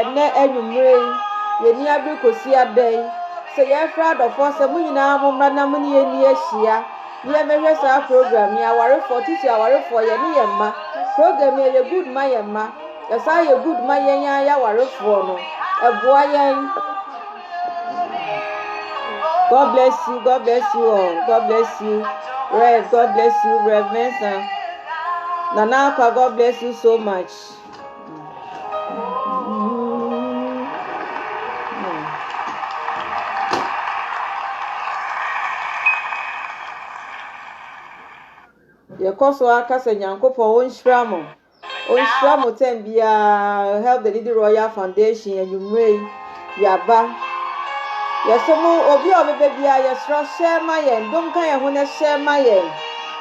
Ɛnnɛ anwummere yi, yɛnni abere kosi adɛn? Sɛ yɛrefrɛ adɔfo a, sɛ mo nyinaa mommra na mo ne yɛn nni ahyia, na yɛmmɛhwɛ saa program yi. Awarefoɔ, titiri awarefoɔ, yɛne yɛn mma, program yi ɛyɛ good ma yɛn mma, ɛsan yɛ good ma yɛn ara yɛn awarefoɔ no. Ɛboa yɛn. God bless you, God bless you all, God bless you, Rev, God bless you, Rev Mensah, Nana Akwa, God bless you so much. yɛkɔ so ara ka sɛ nyankopɔn ɔnhyira mo ɔnhyira mo tɛm biara help the needy royal foundation anwummerɛ yi Yaba. Yɛsɛ mo obi a ɔbɛbɛ biara yɛsrɛ share ma yɛn, dom ka yɛn ho na share ma yɛn.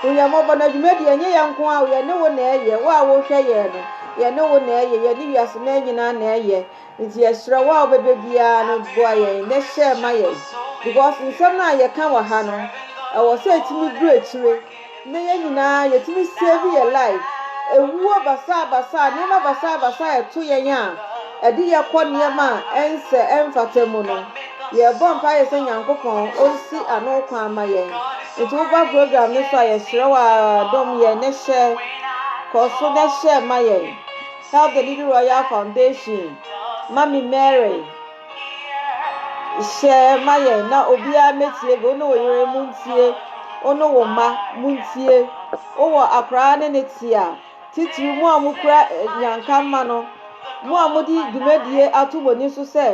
Hu yɛn mmɔbɔ na dwumadie ɛnyɛ yɛn nko ara o, yɛne wo na ɛyɛ, wo a wohwɛ yɛn no, yɛne wo na ɛyɛ, yɛne wiase mmaa nyinaa na ɛyɛ. Nti yɛsrɛ wo a wobɛbɛ biara no boa yɛn na share ma yɛn because nsɛm no a yɛka wɔ ha no, ɛwɔ sɛ ɛtumi duru akyire. Nnɛ yɛn nyinaa yɛtumi save yɛn life. Ɛwuo basaa basaa, nneɛma basaa basaa a ɛto yɛn a ɛde yɛn kɔ nneɛma a ɛnsɛ, ɛmfata mu no, yɛbɔ mpaeɛ sɛ Nyankopɔn ɔnsi ano kwan ma yɛn. Nti woba program no so a yɛsrɛ wo ara dom yɛn na hyɛ, kɔ so na hyɛ ma yɛn. Help the Needy Royal Foundation, Mummy Mary. Hyɛ ma yɛn na obiara mɛtie bi, wo ne wo yere mu ntie, wo ne wo mma mu ntie, wowɔ akoraa ne ne te a, titiri mu a mokura eh, nyanka mma no, mo a mode dwumadie ato mo ani so sɛ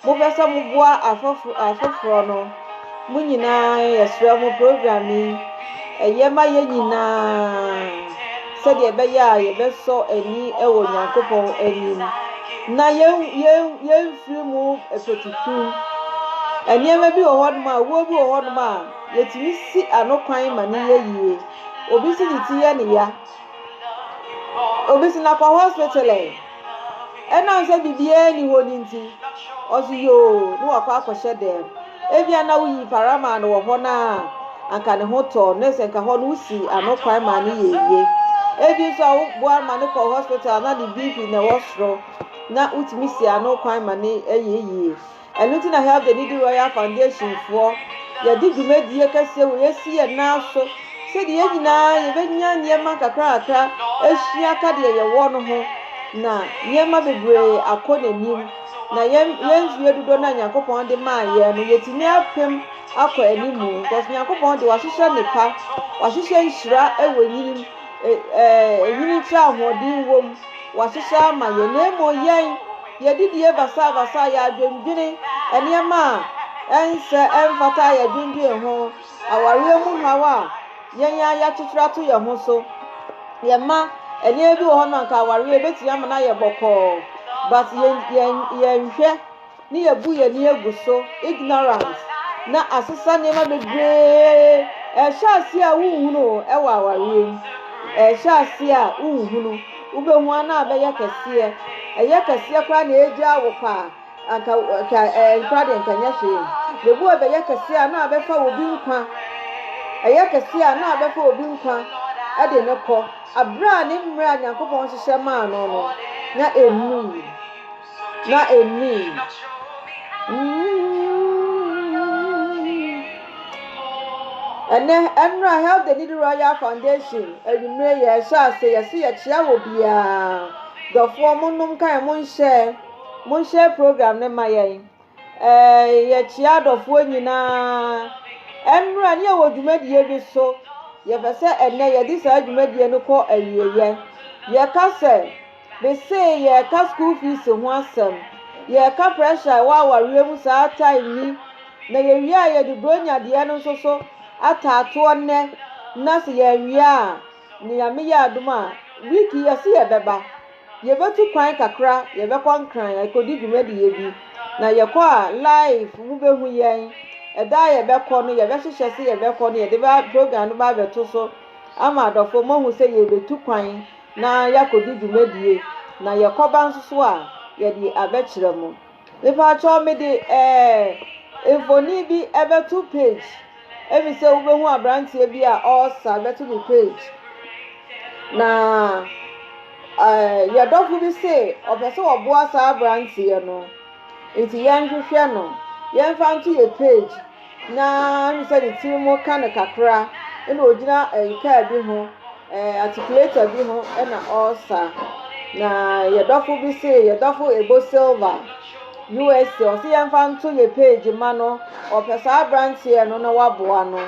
mopɛ sɛ moboa afoforɔ no. Mo nyinaa yɛsrɛ mo program yi ɛyɛ ma yɛn nyinaa sɛdeɛ ɛbɛyɛ a yɛbɛsɔ ani wɔ nyankopɔn anim na yɛmfiri mu fatutu nneɛma bi wɔ hɔnom a wuo bi wɔ hɔnom a yɛtumi si ano kwan ma ne yɛ yie obi si ne ti yɛ ne ya obi si nakɔ hospital ɛ Ɛnam sɛ biribiara nni hɔ no nti, ɔse yoo na wakɔ akɔhyɛ dɛm. Ebia na woyii para maa no wɔ hɔ no a, anka ne ho tɔɔ no, na sɛ nka hɔ no wosi ano kwan maa no yɛ yie. Ebi nso a woboa no ma no kɔ hospital na ne BP na ɛwɔ soro, na wotumi si ano kwan ma no yɛ yie. Ɛno nti na Help the Needy Royal Foundation foɔ yɛde dwumadie kɛseɛ wei asi yɛn nan so sɛdeɛ yɛn nyinaa yɛbɛnya nneɛma nkakrakakra ahyia ka deɛ yɛwɔ no ho na nneɛma bebree akɔ n'anim na yɛn yɛn mfie dodoɔ no a Nyankopɔn de maa yɛn no yɛtumi apem akɔ anim because Nyankopɔn de wahyehyɛ nnepa wahyehyɛ nhyira wɔ nyinim ɛɛ ɛnyini nkyerɛ ahoɔden wom wahyehyɛ ama yɛn na mmom yɛn Yɛadidie basabasa, yɛadwendwene nneɛma a ɛnsɛ, ɛmfata a yɛadwendwene ho, awareɛ mu haw a yɛn ara yɛakyekyere ato yɛn ho so. Yɛn mma, nneɛma bi wɔ hɔ no anka awareɛ ɛbɛtumi ama no ayɛ bɔkɔɔ but yɛn, yɛn, yɛnhwɛ ne yɛbu yɛn ani agu so, ignorance, na asesa nneɛma bebree. Ɛhyɛ aseɛ a wonhunu o ɛwɔ awareɛ mu, ɛhyɛ aseɛ a wonhunu. Wobɛhu a na abɛyɛ kɛseɛ, ɛyɛ kɛseɛ koraa na ɛregyaa wo paa, anka ka ɛɛ nkora deɛ nka nyɛ hwee. Yehowa bɛyɛ kɛseɛ a na abɛfa obi nkwa, ɛyɛ kɛseɛ a na abɛfa obi nkwa ɛde no kɔ. Aberɛ a ne mmerɛ a Nyankopɔn hyehyɛ maa no no na ɛnnui. na ennui. Ɛnɛ, ɛnora Heldeni de Royal Foundation anwummere yɛ ɛhyɛ ase yɛse yɛkyea wɔ biara. Dɔfoɔ monom ka yɛn monhyɛ monhyɛ program no ma yɛn. Eeii yɛkyea adɔfoɔ nyinaa ɛmmra ne yɛwɔ dwumadie bi so yɛpɛ sɛ ɛnɛ yɛde saa dwumadie no kɔ awieɛ yɛka sɛ mesee yɛka school fees ho asɛm yɛka pressure a ɛwɔ awareɛ mu saa time yi na yɛwie a yɛde bronya deɛ no nso so ataatoɔ nnɛ na se yɛnwie a Ne Nyame yɛ adom a, week yi yɛse yɛbɛba. Yɛbɛtu kwan kakra, yɛbɛkɔ Nkran akɔdi dwumadie bi. Na yɛkɔ a, live mobɛhu yɛn. Ɛda a yɛbɛkɔ no, yɛbɛhyehyɛ se yɛbɛkɔ no, yɛde bɛ program no bɛ abɛto so ama adɔfoɔ moahu sɛ yɛrebɛtu kwan na yɛakɔdi dwumadie. Na yɛkɔba nso so a, yɛde abɛkyerɛ mo. Mepaatwɔ mede ɛɛ mfoni bi ɛbɛto page ebi sɛ wobɛhu abranteɛ bi a ɔresa ɛbɛto ne page na ɛɛ yɛdɔfo bi se ɔpɛ sɛ ɔboa saa abranteɛ no nti yɛnhwehwɛ no yɛnfa nto yɛ page. Na mehu sɛ ne tiri mu ka no kakra, ɛna ɔgyina ɛɛ kaa bi ho, ɛɛ atikuleta bi ho ɛna ɔresa. Na yɛn dɔfo bi se, yɛn dɔfo Ebo Silva, USA, ɔse yɛmfa nto yɛn page mma no, ɔpɛ saa aberanteɛ no na waboa no.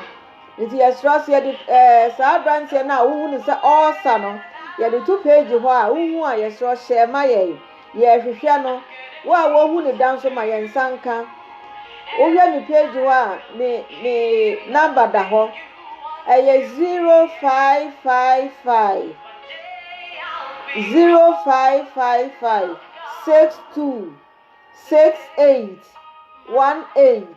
Nti yɛsrɛ sɛ yɛde ɛɛ saa aberanteɛ no a wohu no sɛ ɔresa no, yɛde to page hɔ a, wohu a yɛsrɛ hyɛ ma yɛn. Yɛrehwehwɛ no. Wo a wohu no da nso ma yɛn nsa nka. Wohwɛ me page hɔ a, me me number da hɔ. Ɛyɛ zero five five five zero five five five six two six eight one eight.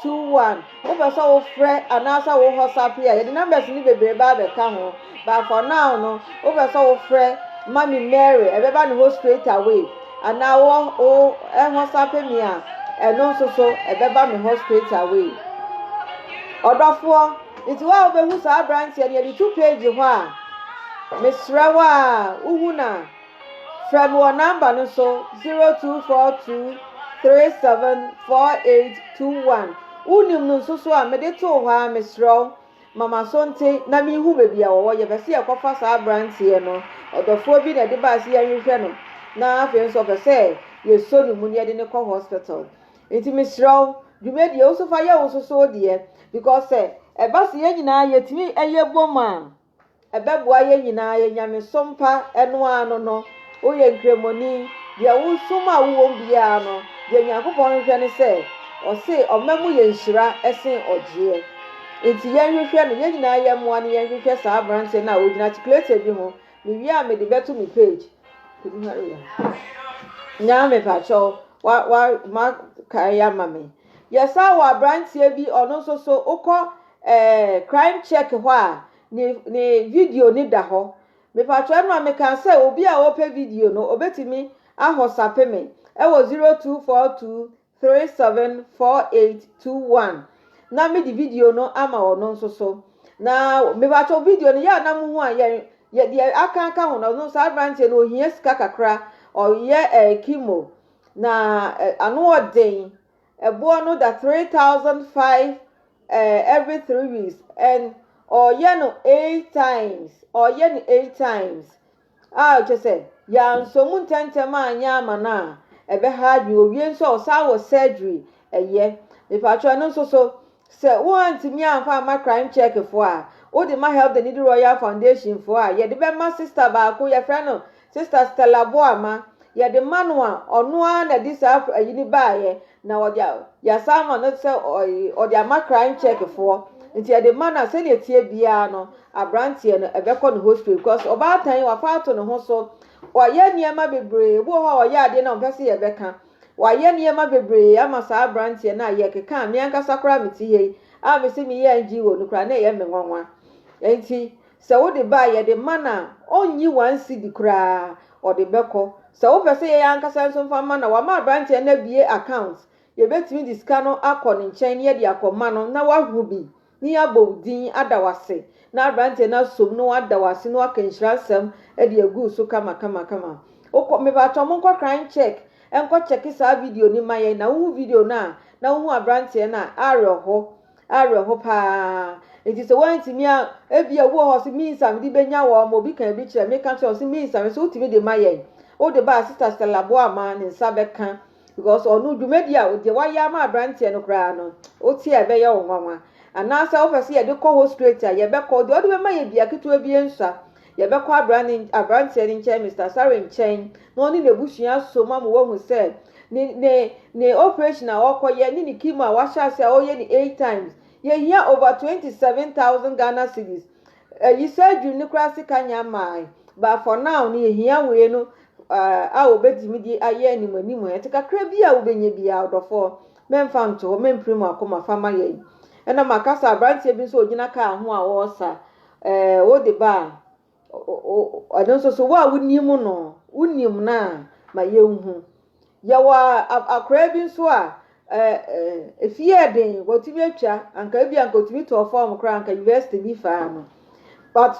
two one wopɛ sɛ wofrɛ anaasɛ wo WhatsApp a yɛde numbers no bebree ba abɛka ho but for now no wopɛ sɛ wofrɛ mami Mary ɛbɛba ne hɔ straight away anaa wɔ wo WhatsApp mi a ɛno nso so ɛbɛba me hɔ straight away ɔdɔfoɔ nti wo a wobɛhu saa aberanteɛ no yɛde tu page hɔ a mesrɛ wo a wohu no a Frɛ no wɔ nɔmba no so, zero two four two three seven four eight two one. Wunim no nso so a, mede too hɔ ara, mesrɛ wo, ma m'aso nte na minhu baabi a wɔwɔ. Yɛpɛ sɛ yɛkɔfa saa aberanteɛ no. Ɔdɔfoɔ bi na ɛde bae sɛ yɛnhwehwɛ no, na afei nso ɔpɛ sɛ yɛsɔ ne mu na yɛde no kɔ hospital. Nti mesrɛ wo, dwumadie yi, wo nso fa yɛ wo nso so wo deɛ, because sɛ ɛba sɛ yɛn nyinaa yɛtumi yɛ bom a, Ɛbɛboa yɛn nyinaa, yɛn nyamesom pa ɛno ara no no, woyɛ nkramoni, deɛ wosom a wowɔ mu biara no, deɛ Nyankopɔn hwehwɛ ne sɛ, ɔse ɔma mu yɛ nhyira sen ɔgyeɛ. Nti yɛnhwehwɛ no, yɛn nyinaa yɛmmoa no yɛnhwehwɛ saa aberanteɛ no a ɔgyina Articulated bi ho, mewie a mede bɛto me page. Nyaa me pakyɛw, wa, wa, ma kae ama me. Yɛsan wɔ aberanteɛ bi, ɔno nso so, wokɔ eh, crime check hɔ a ne ne video ne da hɔ mepatwɔ ɛno a meka sɛ obi a ɔpɛ video no obetumi ahɔ sape me ɛwɔ zero two four two three seven four eight two one na me di video no ama ɔno nso so na mepatwɔ video no yɛ a na mo ho a yɛn yɛ deɛ aka aka ho na ɔno saa aberanteɛ no ohia sika kakra ɔyɛ ɛɛ eh, kimo na eh, ano ɔden. Ɛboɔ no da three thousand five ɛɛ every three weeks and ɔyɛ no eight times ɔyɛ no eight times a kyɛ sɛ yansɔ mu ntɛntɛm a nyɛ ama no a ɛbɛha adwene owie nso a ɔsan wɔ surgery ɛyɛ mipatwa no nso so Sɛ woantumi amfa amma Crime Check foɔ a, wode ma Help the Needy Royal Foundation foɔ a, yɛde bɛma sista baako, yɛfrɛ no Sista Stella Boama. Yɛde ma no a, ɔno ara na ɛde saa ayi no baeɛ, na ɔde a, yɛasan ama no sɛ ɔ, ɔde ama Crime Check foɔ. Nti yɛde ma no a, sɛdeɛ ɛteɛ biara no, aberanteɛ no, ɛbɛkɔ no hospital because ɔbaatan yi, wafa ato ne ho so. Wayɛ nneɛma bebree. Ebi wɔ hɔ a, ɔyɛ adeɛ no a, ɔmpɛ sɛ yɛbɛka. Wɔayɛ nneɛma bebree ama saa aberanteɛ no a yɛkeka a me ankasa koraa a mete ha yi a mese meyɛ NGO no koraa na ɛyɛ me nwanwa. Enti sɛ wode ba a yɛde ma no a ɔnnyi one cedi koraa ɔde bɛkɔ. Sɛ wopɛ sɛ yɛn ankasa nso mfa ma no a wɔama aberanteɛ no abue account, yɛbɛtumi de sika no akɔ ne nkyɛn na yɛde akɔma no na wahu bi ne abɔ wo din ada wo ase na aberanteɛ no asom na wada wo ase na waka nhyira nsɛm de agu wo so kama kama kama. Wokɔ, mepaatwɔ monkɔ crime check nkɔ kyɛke saa video no ma yɛn na wohu video no a na wohu aberanteɛ no a, awerɛho, awerɛho paa. Nti sɛ woantumi a, ebia obi wɔ hɔ ɔse means a mede bɛnya wɔn ma obi kan bi kyerɛ meka kyerɛ ɔse means a mese wotumi de ma yɛn, wode ba a sister Stella Boama ne nsa bɛka Because ɔno dwumadi a deɛ wayɛ ama abranteɛ no koraa no wote a ɛbɛyɛ wo nwanwa anaasɛ wopɛ sɛ yɛde kɔ hɔ straight a yɛbɛkɔ deɛ ɔde bɛma yɛ bia ketewa bi nsua yɛbɛkɔ abranteɛ no nkyɛn Mr. Sare nkyɛn na ɔne n'abusua so ma mo wahu sɛ ne ne ne operation a ɔkɔyɛ ne ne chemo a wahyɛ ase a ɔyɛ ne eight times yɛhia over twenty seven thousand Ghana cedis Ayisaa dwom no koraa sika nya mae but for now no yɛhia wei no a wobɛtumi de ayɛ anim anim a ɛte kakra bi a wobɛnya biara ɔdɔfoɔ mɛmfa nto hɔ mɛmpire mu akoma fa ma yɛn ɛna maka sɛ aberanteɛ bi nso ɔgyina kaa ho a ɔresa ɛɛ wode ba a ɛno nso so wo a wonim no wonim no a ma yɛnhu Yɛwɔ akoraa bi nso a efi yɛ den wɔtumi atwa anka ebi anka otumi tɔɔ fam koraa anka university bi faa no but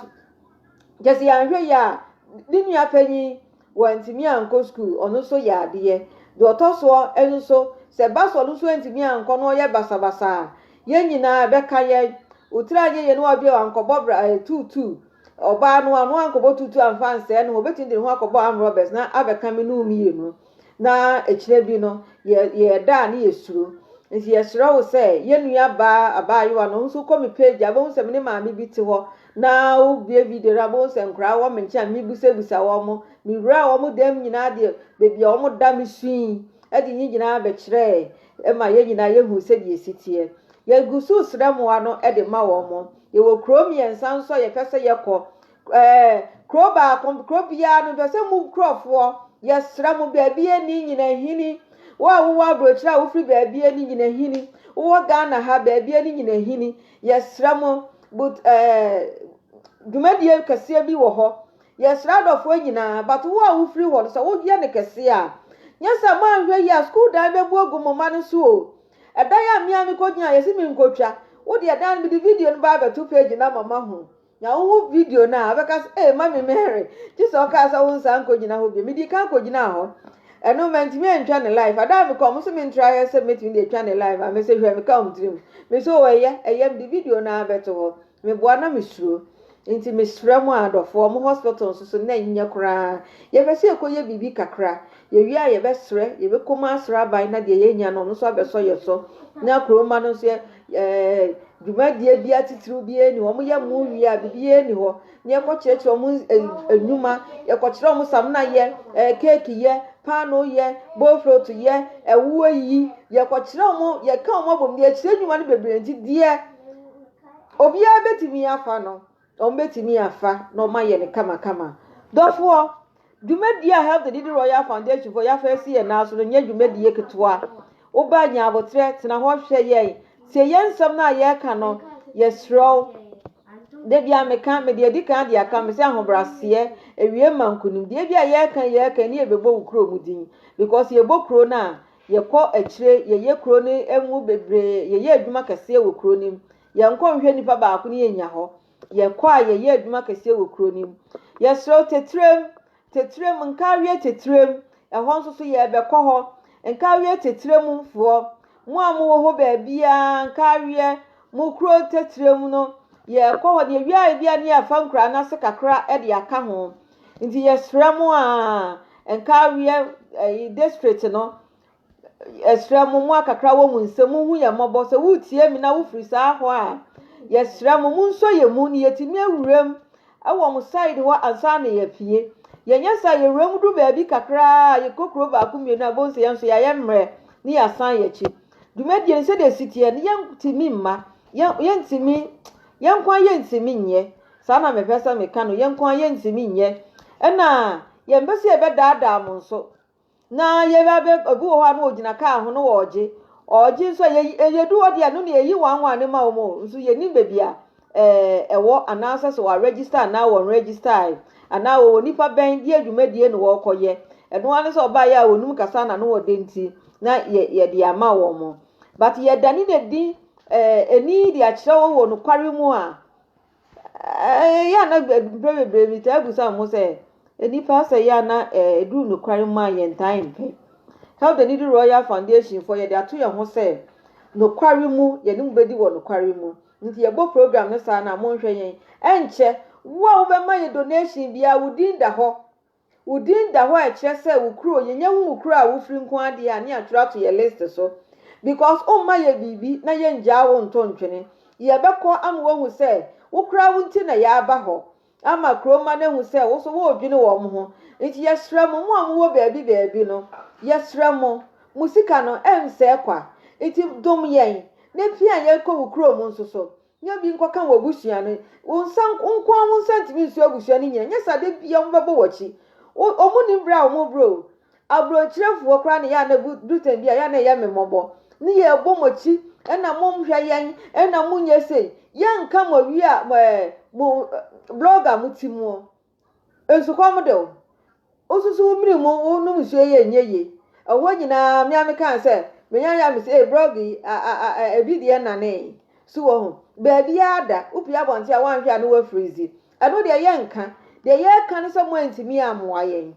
kyɛ sɛ yɛanhwɛ yɛ a ne nua panyin wɔntumi ankɔ sukuu ɔno nso yɛ adeɛ deɛ ɔtɔ soɔ nso sɛ ba so ɔno nso antumi ankɔ na ɔyɛ basabasa a yɛn nyinaa bɛka yɛn wotiri anyɛ yɛn na wɔde wankɔbɔ bra ɛtuutuu Ɔbaa no a, no annkɔbɔ tuutu ammfa annsɛɛ noho, obetumi dze noho akɔbɔ armed robbers na abɛkã me no mmienu, na ekyina bi no yɛ yɛɛda a ne yɛ suro. Ntsi yɛserɛ wo sɛ yɛ nua baa abaayewa no nso kɔ me page a ebɛhu sɛ me ne maame bi tse hɔ na wo bue video no a ebɛhu sɛ nkoraa wɔ me nkyen a me busabusa wɔmo, me wuraa wɔmo dɛm nyinaa deɛ beebi a wɔmo da me sui dze nye nyinaa bɛkyerɛɛ ma yɛ nyinaa yɛ huu sɛdeɛ esi teɛ. Yɛ gu soo serɛ moa no de ma wɔmo. Yɛwɔ kuro mmiɛnsa nso a yɛpɛ sɛ yɛkɔ. Ɛɛ kuro baako kuro biara no mpɛ sɛ mu nkurɔfoɔ yɛsrɛ mo baabi ani nyina hini wo a wowɔ aburokyerɛ a wofiri baabi ani nyina hini wowɔ Ghana ha baabi ani nyina hini yɛsrɛ mo but ɛɛ dwumadie kɛseɛ bi wɔ hɔ yɛsrɛ adɔfoɔ nyinaa but wo a wofiri hɔ no sɛ woyɛ no kɛseɛ a nyɛ sɛ moanhwɛ yi a sukuu dan bɛbu agu mo mma no so o Ɛda yi a me ara mikogyina a yɛse menkotwa, wo deɛ daa no mede video no ba abɛto page no ama mahu. Nya wohu video no a, wobɛka sɛ, ee Mami Mary, gye sɛ ɔkaa sɛ wonsan nkogyina hɔ bio. Medii kan kogyinaa hɔ. Ɛno mantumi antwa no live. Ada a mekɔ a, wɔn se mentra yɛ sɛ mɛtumi de atwa no live a, mese hwɛ, meka wɔn tirim. Mese oo, ɛyɛ, ɛyɛ, mede video no ara bɛto hɔ. Meboa na mesuro. Nti mesrɛ mo a adɔfoɔ, mo hospital nso so na ɛnyɛ koraa. Yɛpɛ sɛ yɛkɔyɛ biribi kakra. Yɛwie a yɛbɛsrɛ, yɛbɛkɔ mu asrɛ aban na deɛ yɛnya no, ɔno nso abɛsɔ yɛn so. Na kuro mma no nso yɛ, ɛɛ, dwumadie biara titiriw biara nni hɔ. Wɔyɛ mo wie a, biribiara nni hɔ. Na yɛkɔkyerɛkyerɛ wɔn eh, nnwuma, yɛkɔkyerɛ wɔn samina yɛ, ɛɛ, keeki yɛ, paano yɛ, boflot yɛ, ɛwoɔ yi. Yɛkɔkyerɛ wɔn, yɛka wɔn abom, yɛkyerɛ nnwuma no bebree nti deɛ Obiara bɛtumi afa no, wɔbɛtumi afa na wɔayɛ no kamakama. Dɔfoɔ, dwumadie a Help the Needy Royal Foundation foɔ yɛafa asi yɛn nan so no nyɛ dwumadie ketewa. Woba nya aboterɛ, tena hɔ hwɛ yɛn, tie yɛn nsɛm no a yɛreka no, yɛsrɛ wo. Da bi a meka, mede adi kan de aka, mesɛ ahobraseɛ, awie ma nkonimdie. Ebi a yɛreka yɛreka ne yɛbɛbɔ wo kurom din, because yɛbɔ kuro no a, Yɛkɔ akyire, yɛyɛ kuro no ngo bebree, yɛyɛ adwuma kɛseɛ wɔ kuro no mu. Yɛnkɔ nhwɛ nipa baako ne yɛnya hɔ. Yɛkɔ a yɛyɛ adwuma kɛseɛ wɔ kuro no mu. Yɛsrɛ wo Tetirem, Tetirem, Nkaawie Tetirem, ɛhɔ nso so yɛrebɛkɔ hɔ. Nkaawie Tetirem foɔ, mo a mowɔ hɔ baabiara, Nkaawie, mo kuro Tetirem no, yɛrekɔ hɔ. Deɛ wiaeɛ biara ne yɛafa nkuraa no ase kakra de aka ho. Nti yɛsrɛ mo aa, Nkareɛ ɛyi district no, yɛsrɛ mo, mo akakra wɔ mo nsam, monhu yɛn mmɔbɔ. Sɛ woretie mi na wofiri saa hɔ a, yɛsrɛ mo, monsɔ yɛn mu na yɛtumi awuram wɔ mo side hɔ ansa na yɛafie. Yɛnyɛ saa yɛwuram du baabi kakraa a, yɛkɔ kuro baako mmienu a, bonsɛ yɛn nso yɛayɛ mmerɛ ne yɛasan yɛn akyi. Dwumadie no sɛdeɛ ɛsi teɛ no, yɛntumi mma. Yɛn yɛntumi yɛn nko ara yɛntumi nyɛ saa na mepɛ sɛ meka no yɛn nko ara yɛntumi nyɛ ɛna yɛn bɛ sɛ yɛbɛdaadaa mo nso na yɛbɛ abɛ obi wɔ hɔ a na ɔgyina kaa ho no ɔɔgye ɔɔgye nso a yɛyi yɛdu hɔ deɛ no na yɛyi wɔn anwa ne ma wɔn o nso yɛnim baabi a ɛɛ ɛwɔ anaasɛ sɛ wɔaregister anaa wɔn register anaa wɔwɔ nipa bɛn deɛ dwumadie na wɔrekɔyɛ ɛno ara ne sɛ ɔbaeɛ a wɔnum kasa na no wɔde nti na yɛ yɛde ama wɔn. But yɛ dane no adi eh, ani de akyerɛ wo wɔ nokware mu a, eh, yɛ ana mprɛ bebree metaa bu sa mo sɛ, nnipa sɛ yɛ ana eh, ɛduru nokware mu a yɛntaa mpɛ. Help the Needy Royal Foundation fɔ yɛde ato yɛn ho sɛ nokware mu yɛne mu bɛdi wɔ nokware mu. Nti yɛbɔ program no saa na monhwɛ yɛn. Ɛnkyɛ, wo a wobɛma yɛ donation biara wo din da hɔ. Wo din da hɔ a ɛkyerɛ sɛ wo kuro yɛnya hu wo kuro a wo firi nko ara deɛ a ne yɛatwerɛ ato yɛ list so because wo mma yɛ biribi na yɛ ngyaa wo nto ntwene yɛ bɛkɔ ama wahu sɛ wo koraa wo nti na yɛ aba hɔ ama kuro mma no ahu sɛ wo so wo redwene wɔn ho nti yɛ srɛ mo mo a mo wɔ baabi baabi no yɛ srɛ mo mo sika no ɛnsɛɛ kwa nti dom yɛn na pia yɛ kɔ wo kuro mu nso so Nya bi nkɔka w'abusua no. Wo nsa nk wo nko ara wo nsa ntumi nso abusua no nyinaa. Ɛnyɛ saa da biara wɔbɛbɔ w'akyi. Wo wɔn nim berɛ a wɔn rebrɛ o. Aburokyerefoɔ koraa na ɛyɛ a na ɛbu duru time bi a ɛyɛ a na ɛyɛ me mmɔbɔ. Ne yɛrebɔ mo akyi ɛna monhwɛ yɛn ɛna monyɛ sei. Yɛnka mo awie a mo ɛɛ mo blogger mo ti moɔ. Nsukɔm de wo. Wosusu wo mene mu, wonom nsuo yi a ɛnyɛ yie. Ɛhɔ nyinaa, me ara meka sɛ, menya yɛ a mese, ee, blog yi, a, a, a, a, ebi deɛ nanee. So wɔ ho? Baabiara da, wopue abɔnten a, woanhwɛ a na woafirizi. Ɛno deɛ yɛnka. Deɛ yɛka ne sɛ moantumi ammoa yɛn.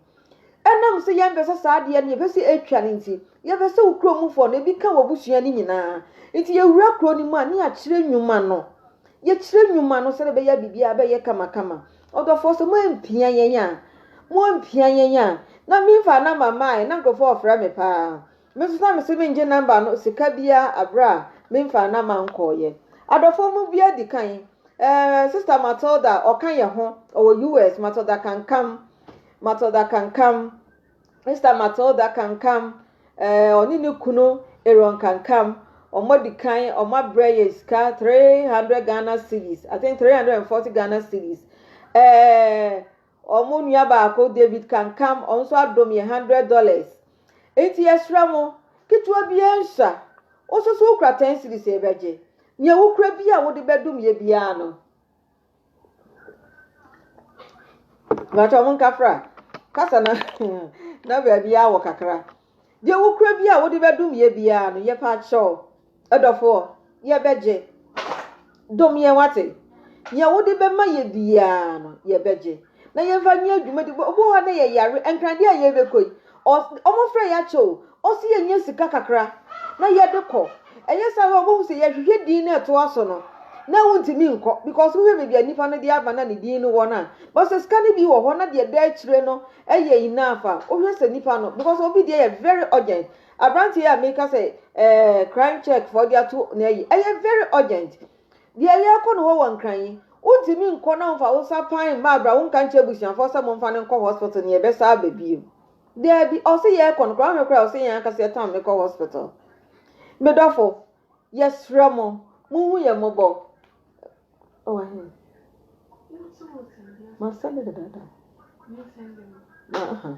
Ɛnam sɛ yɛmpɛ sɛ saa adeɛ no yɛpɛ sɛ ɛtwa no nti, yɛpɛ sɛ wo kurom mufoɔ no ebi ka w'abusua no nyinaa. Nti yɛwura kuro no mu a, ne yɛakyerɛ nnwuma no. Yɛkyerɛ nnwuma no sɛdeɛ ɛbɛyɛ a biribiara bɛyɛ kamakama. Ɔdɔfoɔ, sɛ moampia yɛn a, moampia yɛn a, na memfaa nɔmba mmaeɛ, na nkurɔfoɔ refrɛ me pa ara. Me nso na mese mengye nɔmba no sika biara berɛ a memfaa nɔmba nkɔeɛ. Adɔfoɔ mu biara di kan. Ɛɛ, Sista Matilda, ɔka yɛn ho, ɔwɔ US, Matilda Kankam. Matilda Kankam, Esther Matilda Kankam, eh, ɔne ne kunu Aaron Kankam, wɔn adi kan wɔn abrɛ yɛ sika three hundred Ghana cedis, I think three hundred and forty Ghana cedis. Eh, wɔn nua baako David Kankam, wɔn nso adom yɛ hundred dollars. Enti yɛsrɛ mo, ketewa biara nhyɛ a, wososo wokura ten cedis a yɛbɛgye. Nea wokura bi a wode bɛdom yɛ biara no, Mpakyɛw mo nkafra kasa na na baabi a wɔ kakra. Deɛ wokura bi a wode bɛdom yɛ biara no, yɛpɛ akyɛw. Ɛdɔfoɔ, yɛbɛgye. Dom yɛn wate. Yɛ wode bɛma yɛ biara no, yɛbɛgye. na yɛmfa nyɛ dwumadi bɔ obi wɔ hɔ a na yɛ yare ɛnkran deɛ a yɛ bɛ kɔ yi ɔmo frɛ yɛ akyɛ o ɔsi yɛ nyɛ sika kakra na yɛ de kɔ ɛyɛ saa wɔ ɔbɛhu sɛ yɛ hwehwɛ din na ɛtoa so no na wo ntumi nkɔ because wohwɛ baabi a nipa no de aba na ne din no wɔ no a bɔ sɛ sika no bi wɔ hɔ na deɛ ɛda akyire no ɛyɛ enough a wohwɛ sɛ nipa no because obi deɛ yɛ very urgent abranteɛ a meka sɛ ɛɛ crying check for ɔde ato na ɛyi ɛyɛ very urgent Deɛ yɛrekɔ no hɔ wɔ Nkran yi, wontumi nkɔ na womfa wo nsa pan mma abira, wonka nkyerɛ abusuafoɔ sɛ momfa no nkɔ hospital na yɛbɛsa aba bio. Daabi, ɔse yɛrekɔ no koraa, wohwɛ koraa ɔse yɛn ankasa yɛtam no kɔ hospital. Me dɔfo, yɛsrɛ mo, monhu yɛn mmɔbɔ. Ɔwɔ oh, he? Masɛnde dedaada. Uh -huh.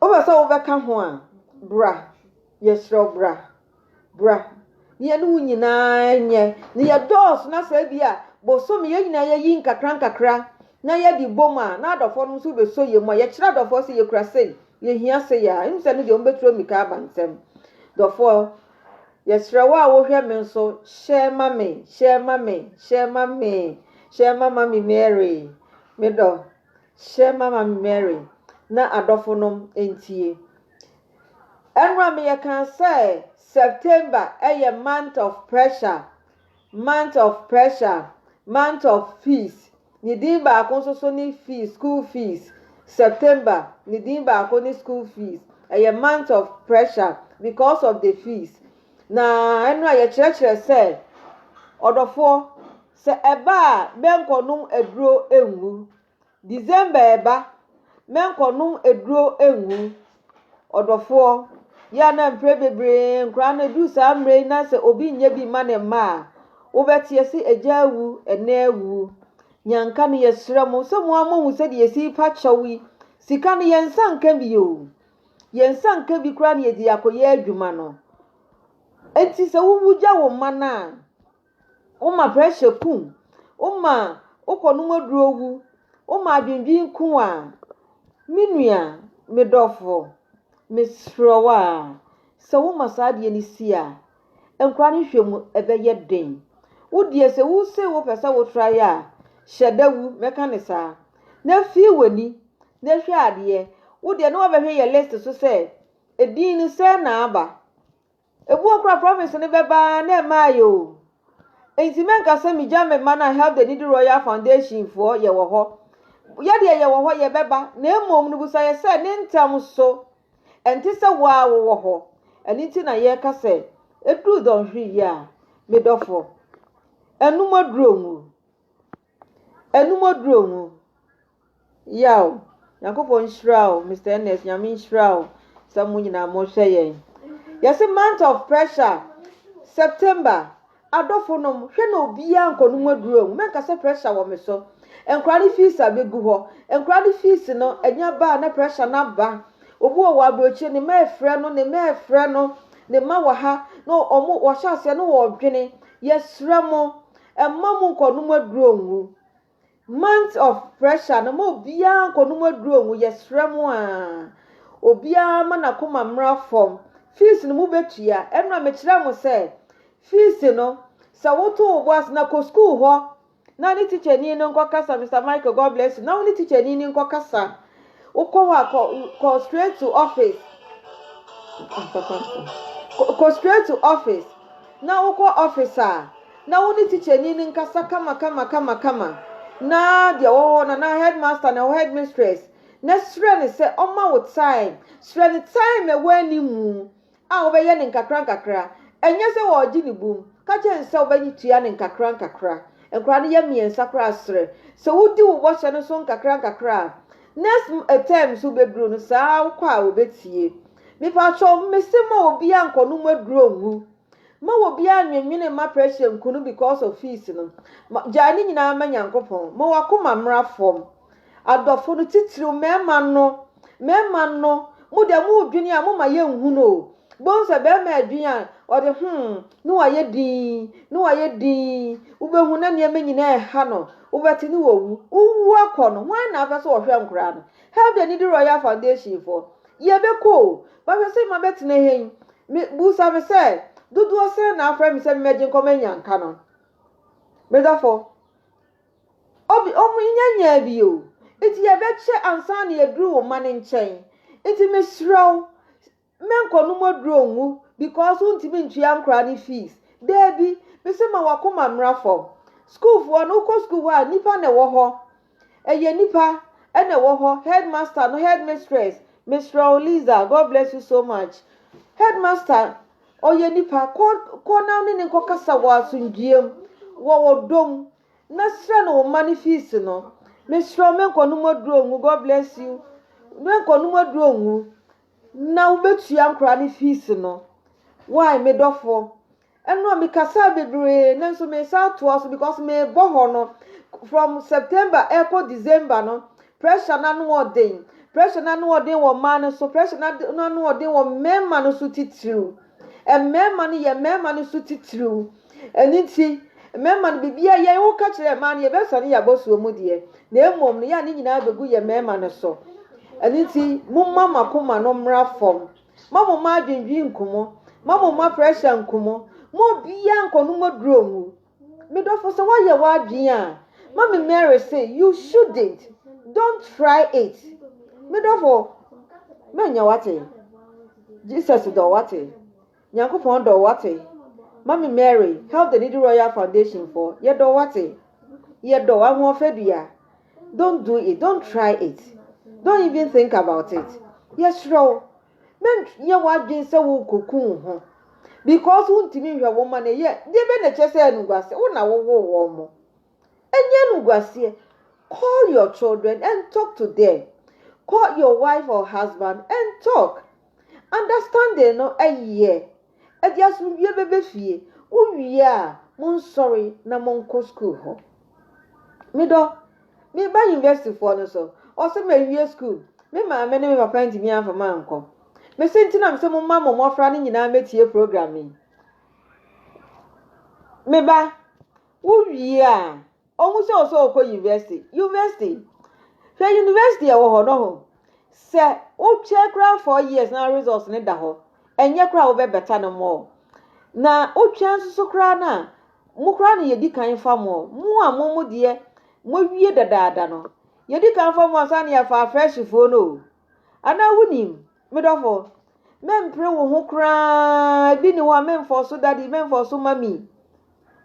Wopɛ sɛ wobɛka ho a, bra. Yɛsrɛ wo bra. Bra. Na yɛne wo nyinaa nyɛ. Na yɛdɔɔso na sɛ bi a bosome yɛn nyinaa yɛyi nkakra nkakra na yɛde bom a na adɔfoɔ no nso bɛsɔ yɛn mu a yɛkyerɛ adɔfoɔ sɛ yɛkura sei, yɛhia sei a, ɛmu sɛ no deɛ wɔbɛturo mmirika aba nsɛm. Dɔfoɔ. Yɛsrɛ wo a wohwɛ me nso, hyɛ ma me, hyɛ ma me, hyɛ ma me, hyɛ ma Mami Mary, me dɔ, hyɛ ma Mami Mary na adɔfo nom ntie. Ɛnora me yɛkaa sɛ September yɛ month of pressure. Month of Pressure, Month of Fees, Ne din baako nso so ne Fees, School Fees. September, Ne din baako ne School Fees. Ɛyɛ Month of Pressure because of the fees. Na ɛno a yɛkyerɛkyerɛ sɛ, Ɔdɔfoɔ, sɛ ɛba a bɛnkɔnom aduro ngu. December reba mɛnkɔ nom aduro ngu ɔdɔfoɔ yɛ a na mprɛ bebree nkoraa no ɛduru saa mmerɛ yi na sɛ obi nyɛ bi mma ne mma a wobɛteɛ se agya awu ɛnɛ awu nyanka no yɛsrɛ mo sɛ mo a mo hu sɛ deɛ yɛsi pa kyɛw yi sika no yɛn nsa nka bi o yɛn nsa nka bi koraa na yɛde akɔyɛ adwuma no enti sɛ wowu gya wo mma no a Woma pressure ku wo. Woma wokɔnom aduro wu. Woma adwendwen ku wo a, me nua, me dɔfo, mesrɛ wo a, sɛ woma saa adeɛ no si a, nkwadaa no hwɛ mu ɛbɛyɛ den. Wo deɛ sɛ wo se wo pɛ sɛ wo tra yɛ a, hyɛ da wu, mɛka ne saa. Na fi w'ani na hwɛ adeɛ. Wo deɛ na wabɛhwɛ yɛ list so sɛ, edin no sɛn na aba. Ebu a okura province no bɛba ara na ɛmmae oo. Enti mɛnka sɛ migya me mma no a Help the Needy Royal Foundation foɔ yɛ wɔ hɔ. Yɛdeɛ yɛ wɔ hɔ, yɛbɛba, na mmom no busa yɛ sɛ ne ntɛm so. Ɛnte sɛ wo ara wowɔ hɔ. Ɛno nti na yɛka sɛ ɛduru dɔnhwere yi a, me dɔfoɔ, anum aduru wo mu. Anum aduru wo mu. Yaw! Nyankopɔn nhyira wo Mister Ernest Nyame nhyira wo sɛ mo nyinaa mo hwɛ yɛn. Yɛse month of pressure September adɔfo nom hwɛ na obiaa nkɔ nom aduro mu mɛnka sɛ pressure wɔ me so nkora ne fees a bɛgu hɔ nkora ne fees no anya baa na pressure no aba obi wɔ wɔ abrɔkyire ne mɛ frɛ no ne mɛ frɛ no ne ma wɔ ha na ɔmo wɔhyɛ aseɛ no wɔ dwene yɛsrɛ mo ɛmma mo nkɔ nom aduro ngu Month of pressure no ma obiara nkɔnom aduro ngu yɛsrɛ mo a obiara ma n'akoma mmra fam fees no mobɛtua ɛno a mekyerɛ mo sɛ fees no sɛ woto wo bo ase na kɔ school hɔ na ne teacherni no nkɔkasa Mr. Michael God bless you na wo ne teacherni no nkɔkasa Wokɔ hɔ a, kɔ, kɔ straight to office. Kɔ straight to office. Na wokɔ office a, na wo ne tikyani no nkasa kama kama kama kama. Na deɛ wɔ hɔ na na headmaster na ɛwɔ headmistress. Na srɛ no sɛ ɔma wo time. Srɛ no time a ɛwɔ anim. a wɔbɛyɛ no nkakrankakra, ɛnyɛ sɛ wɔregye no bum, ka kyerɛ no sɛ wobɛgye tua no nkakrankakra. Nkwadaa no yɛ mmiɛnsa koraa serɛ. Sɛ wodi wo bɔhyɛ no so nkakrankakra a, next term nso bɛduru no, saa ara wokɔ a wɔbɛtie. Mepakyɛw, mese ma obiara nkɔnom aduro ngu. Ma obiara nnwennwene mma pressure nku no because of fees no. Gyae ne nyinaa ma Nyankopɔn. Ma w'akoma mmra fam. Adɔfo no, tsitsiriw mmarima no, mmarima no, mo dɛ morodwen a, momma yennhu no o. Bohu sɛ barima redwen a, ɔde hmm, ne wayɛ dinn, ne wayɛ dinn, wobɛhu na nneɛma nyinaa reha no, wobɛte ne wawu. Wowu akɔ no, hwan na afɛ sɛ ɔhwɛ nkoraa no? Help the Needy Royal Foundation foɔ, yɛbɛkɔ o, bɛhwɛ sɛ mabɛtena ha yi, me, busa me sɛ, dodoɔ sɛn na afrɛ me sɛ memmɛgye nkɔma anyanka no? Me dɔfo, Obi, O me nua nyaa bi o, nti yɛbɛkyɛ ansa na yɛaduru wo mma no nkyɛn. Nti mesrɛ wo, menkɔnom aduro ngu because wontumi ntua nkwadaa no fees. Daabi, mese ma w'akoma mmra fam. Sukuufoɔ no, wokɔ sukuu hɔ a, nnipa na ɛwɔ hɔ. Ɛyɛ nnipa na ɛwɔ hɔ, headmaster no, headmistress. Mesrɛ wo Liza, God bless you so much. Headmaster, ɔyɛ nnipa, kɔ, kɔ na wo ne no nkɔkasa wɔ asomdwoeɛ mu, wɔ ɔdɔ mu. Na srɛ no wo mma no fees no. Mesrɛ wo menkɔ nom aduro ngu God bless you menkɔ nom aduro ngu na wo bɛtua nkora no fees no why me dɔfo ɛno a me kasaa bebree nanso me sa atoa so because me bɔ hɔ no from September ɛkɔ December no pressure no ano ɔden pressure no ano ɔden wɔ mmaa no so pressure no ano ɔden wɔ mmarima no so titiriw. Mmarima no yɛ mmarima no so titiriw. Ɛno nti, mmarima no biribiara yɛn woka kyerɛ mmaa no yɛbɛsɔ ne yɛabɔ soɔ mu deɛ, na mmom no yɛ a ne nyinaa bɛgu yɛ mmarima no so. Ɛno nti, momma mo akoma no mmra fam. Ma mo mma adwendwen nku mo. Ma mo mma pressure nku mo. Ma obiara nkɔnom aduro ngu. Me dɔfo sɛ woayɛ w'adwene a mami Mary se you shouldn't don't try it me dɔfo manya wate Jesus dɔ wate Nyankopɔn dɔ wate mami Mary help the needy royal foundation for yɛ dɔ wate yɛ dɔ ahoɔfɛ dua don't do it don't try it don't even think about it yɛ serɛ wo Na nyɛ w'adwene sɛ worekɔku wo ho because wontumi nhwɛ wo mma no ɛyɛ a, deɛ bɛn na ɛkyerɛ sɛ ɛyɛ animguaseɛ? Wo na wowoo wɔn mo. Ɛnyɛ animguaseɛ. Call your children and talk to them. Call your wife or husband and talk. Understanding no ɛyɛ. Ɛde asomdwoeɛ bɛba fie. Wowie a, monsɔre na monkɔ sukuu hɔ. Medɔ me ba universityfoɔ no so. Ɔse mawie sukuu. Me maame ne me papa antumi amfa me ankɔ. Me se nti na me se momma mo mmɔfra no nyinaa mmɛtie program yi. Me ba, wowie a, Ohu sɛ ɔsɛ ɔkɔ university. University? Hwɛ university a ɛwɔ hɔ no ho. Sɛ wokyɛ koraa four years na results no da hɔ, ɛnyɛ koraa wobɛ better no more. Na wotwɛn nso so koraa no a, mo koraa na yɛdi kan fa mo. Mo a mo mo deɛ moawie dadaada no, yɛdi kan fa mo ansa na yɛafa afreshfoɔ no o. Anaa wonim? Me dɔfo, mempere wo ho koraa. Ebi ni hɔ a memfɔ so daddy, memfɔ so mommy.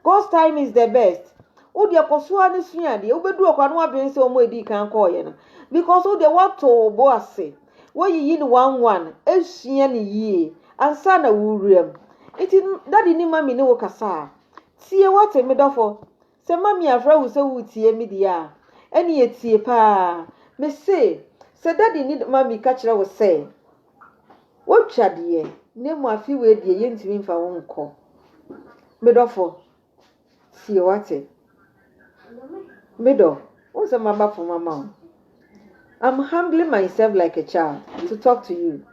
God's time is the best. Wo deɛ kɔ so ara ne sua adeɛ. Wobɛduru ɔkora no wadwene sɛ wɔn a ɛdii kan kɔɔyɛ no. Because wo deɛ woato wo bo ase. Woayiyi no one one. Esua no yie. Ansa na wowura mu. Nti daddy ne mommy ne wo kasa a, tie wate me dɔfo. Sɛ Mami afrɛ wo sɛ woretie me deɛ a, ɛnneɛ tie pa ara. Mese, sɛ Daddy ne Mami ka kyerɛ wo sɛ wotwa deɛ, na mmom afe wei deɛ yɛntumi mfa wo nkɔ, me dɔfo, tie, woate? Me dɔ, wohu sɛ maba fam ama wo. I'm humbling myself like a child to talk to you.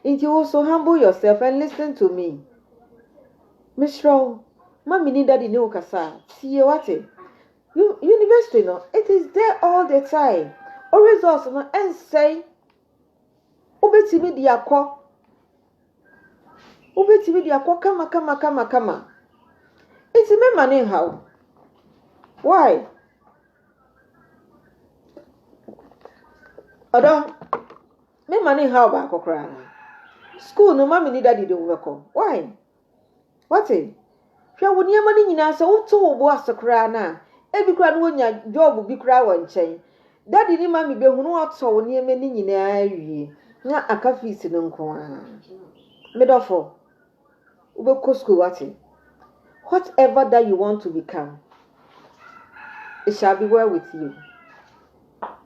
Nti wo so humble yourself and listen to me. Mesrɛ wo, ma me ni daddy ne wo kasa a, tie wate. University no, it is there all the time. O results no ɛnsɛe. Wobɛtumi de akɔ. Wobɛtumi de akɔ kama kama kama kama. Nti mɛma ne nhaw. Why? Ɔdɔ, me mma no nhaw wo baako koraa. School no, mummy ne daddy de wo bɛkɔ. Why? Wate? Hwɛ wo nneɛma no nyinaa sɛ woto wo bo ase koraa no a, ebi koraa no wonya job bi koraa wɔ nkyɛn. Daddy ne mummy behu no wɔatɔ wo nneɛma no nyinaa awie na aka fees no nko ara. Me dɔfo, Wobɛkɔ sukuu wate? Whatever that you want to become, it shall be well with you.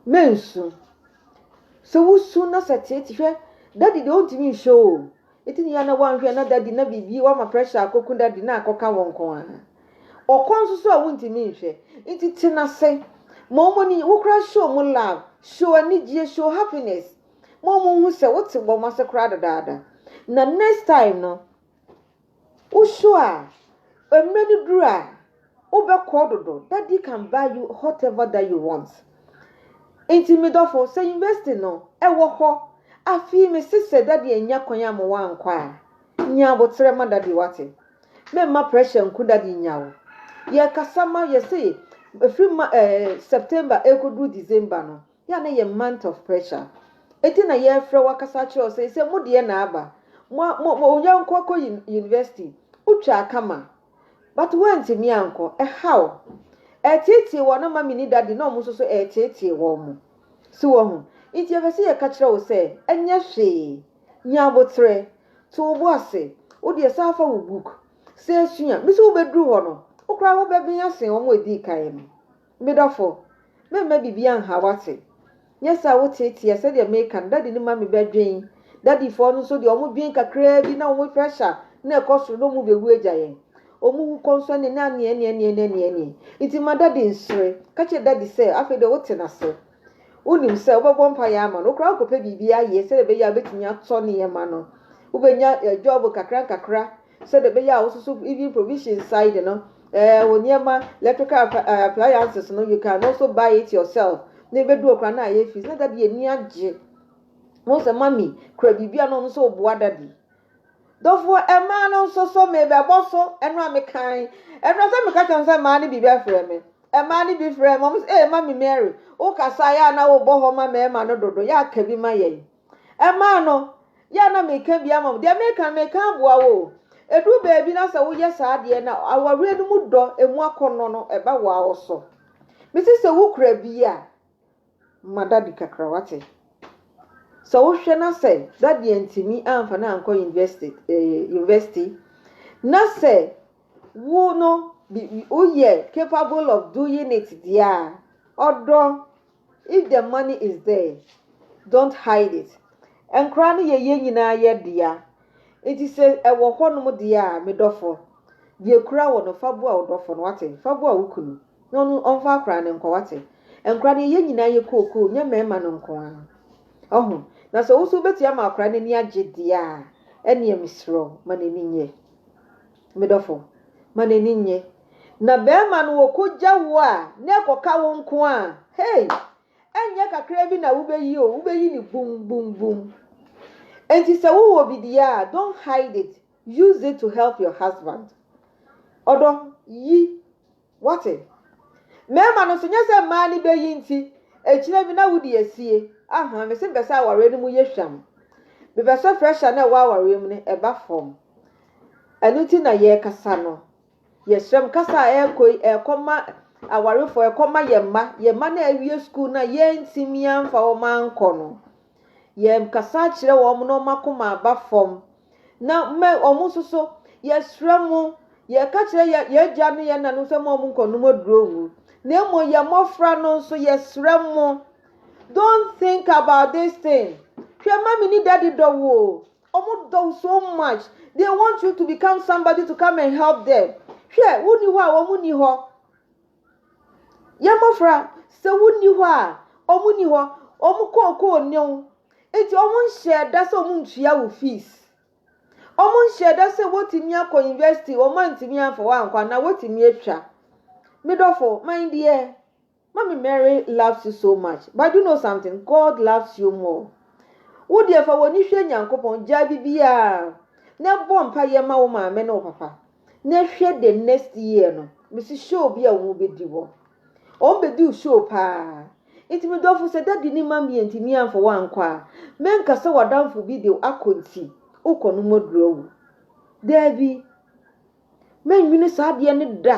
Mensu. Sɛ wosu na sɛ tete hwɛ, daddy deɛ ɔntumi nhwɛ o. Eti ne yɛ na wanhwɛ na daddy na biribi wama pressure akɔku daddy na akɔka wɔn nko ara. Ɔkɔ nso so a wontumi nhwɛ. Nti tena ase. Ma wɔn ani, wokora show wɔn love, show anigyeɛ, show happiness. Mo mo hu sɛ wote bɔ mo ase koraa dedaada. Na next time no, wo show a, mmerɛ no duru a, wobɛkɔ dodo. Daddy can buy you whatever that you want. Nti me dɔfo, sɛ university no, ɛwɔ hɔ. Afei me se sɛ daddy annya kwan a ma wankɔ a, nya aboterɛ ma daddy wate. Memma pressure nku daddy nya wo. Yɛkasa ma yɛse ɛfiri ma ɛɛ September ɛkɔduru December no, Yɛ a na yɛ month of pressure eti na yɛfrɛ wo akasa akyerɛ wo sɛ sɛ mo deɛ na aba mo mo mo nya nkɔ kɔ university wotwaa kama but woantumi ankɔ ɛhaw ɛteetee wɔn na mami ne daddy na wɔn nso so ɛteetee wɔn mo so wɔ ho nti yɛpɛ sɛ yɛka kyerɛ wo sɛ ɛnyɛ hwee nya aboterɛ to wo bo ase wo deɛ san fa wo book sɛ sua mesi wobɛduru hɔ no wo koraa wobɛben asen wɔn a ɛdii kan no. Me dɔfo, meremma biribiara nhaw w'ase. Nyɛ sɛ a woteeteɛ sɛdeɛ mereka no, Daddy no ma me bɛdwen. Daddy foɔ no nso deɛ, wɔdwen kakraa bi na wɔn pressure no rekɔ soro na wɔbɛwu agya yɛn. Wɔn wu kɔnsɔne ne aneɛneɛneɛ ne aneɛneɛ nti ma Daddy nsere. Ka kyerɛ Daddy sɛ afei deɛ wote no ase. Wonim sɛ wobɛbɔ mpaeɛ ama no. Wo koraa wokɔpɛ biribi ayɛ sɛdeɛ ɛbɛyɛ a wobɛtumi atɔ nneɛma no. Wobɛnya job nkakrankakra Sɛdeɛ ɛbɛyɛ a wo nso so even provision side no eh, wo nneɛma electrical eh, appliances no you can also buy it yourself na ɛbɛduro koraa na ayɛ fees na dadi ani agye ho sɛ mami kura biribi a na ɔno nso ɔboa dadi dɔfoɔ ɛmaa no nso so mebɛbɔ so ɛno a mekan ɛno sɛ meka kyɛm sɛ mmaa no bi bɛfrɛ me ɛmaa no bi frɛ ma mo sɛ ee mami mary wokasa yɛ a na wobɔ hɔ ma mmarima no dodo yɛ aka bi ma yɛn Ɛmaa no, yɛ a na meka bi ama wo. Deɛ meka no, meka aboa wo o. Ɛduru baabi na sɛ woyɛ saa adeɛ no a, awareɛ no mu dɔ, ɛmu akɔnnɔ no, ɛba wo ara wo so. Mese sɛ wokura bi a, ma daddy kakra, wate? Sɛ wohwɛ na sɛ daddy antumi amfa no ankɔ university, eh, university, na sɛ wo no, bi- bi- woyɛ capable of doing it deɛ a, ɔdɔ If the money is there, don't hide it. Nkwadaa no yɛ yɛn nyinaa yɛ dea. Nti sɛ ɛwɔ hɔnom deɛ a, me dɔfo, deɛ ɛkura wo no, fa boa wo dɔfo no, wate? Fa boa wo kunu, na ɔno ɔmfa akwadaa no nkɔ, wate? Nkwadaa no yɛ yɛn nyinaa yɛ kookoo, nyɛ mmarima no nko ara. Ɔho, na sɛ wo nso wobɛtumi ama akwadaa no ani agye deɛ a, ɛnneɛ mesrɛ wo, ma n'ani nnye. Me dɔfo, ma n'ani nnye. Na barima no ɔkɔgya wo a, na ɛkɔka wo nko a, hei! Ɛnyɛ kakra bi na wobɛyi o, wobɛyi no bum, bum, bum. Enti sɛ wowɔ bi deɛ a, don't hide it, use it to help your husband. Ɔdɔ, yi. Woate? Mmarima no nso, nyɛ sɛ mmaa no bɛ yi nti, akyire bi na wode asie. Ahaa, mese mepɛ sɛ awareɛ no mu yɛ hwam. Mepɛ sɛ pressure no a ɛwɔ awareɛ mu no, ɛba fam. Ɛno nti na yɛrekasa no. Yɛsrɛ mo, kasa a ɛrekɔ yi, ɛrekɔ ma awarefoɔ, ɛrekɔ ma yɛn mma. Yɛn mma no a awie sukuu no a yɛantumi amfa wɔn ankɔ no. Yɛkasa kyerɛ wɔn na wɔn akoma aba fam. Na mma wɔn nso so, yɛsrɛ mo, yɛka kyerɛ yɛn yɛn agya ne yɛn nana no sɛ mma wɔn nkɔnom aduro ngu. Na mmom yɛn mmɔfra no nso, yɛsrɛ mo, don't think about this thing. Hwɛ, mami ne daddy dɔ wo o. Wɔn dɔ wo so much. They want you to become somebody to come and help them. Hwɛ, wonni hɔ a wɔn nni hɔ. Yɛn mmɔfra, sɛ wonni hɔ a, wɔn nni hɔ. Wɔn kookoo nne wo. Enti wɔn nhyɛɛ da sɛ wɔn ntua wo fees. Wɔn nhyɛɛ da sɛ wɔtumi akɔ university, wɔn antumi amfa wɔankɔ anaa wɔtumi atwa. Me dɔfo, my dear, mommy Mary loves you so much, but you know something, God loves you more. Wo deɛ fa w'ani hwɛ Nyankopɔn, gyaa biribiara na bɔ mpaeɛ ma wo maame ne wo papa. Na hwɛ the next year no, mesi show bi a wɔn bɛdi hɔ. Wɔn bɛduu show paa. Nti me dɔfo sɛ dadi ne ma mmiɛ nti mi amfa wankɔ a, menka sɛ wadamfo bi de akɔ nti wokɔ no mɔduru awu. Daabi. Mɛnwene saa adeɛ no da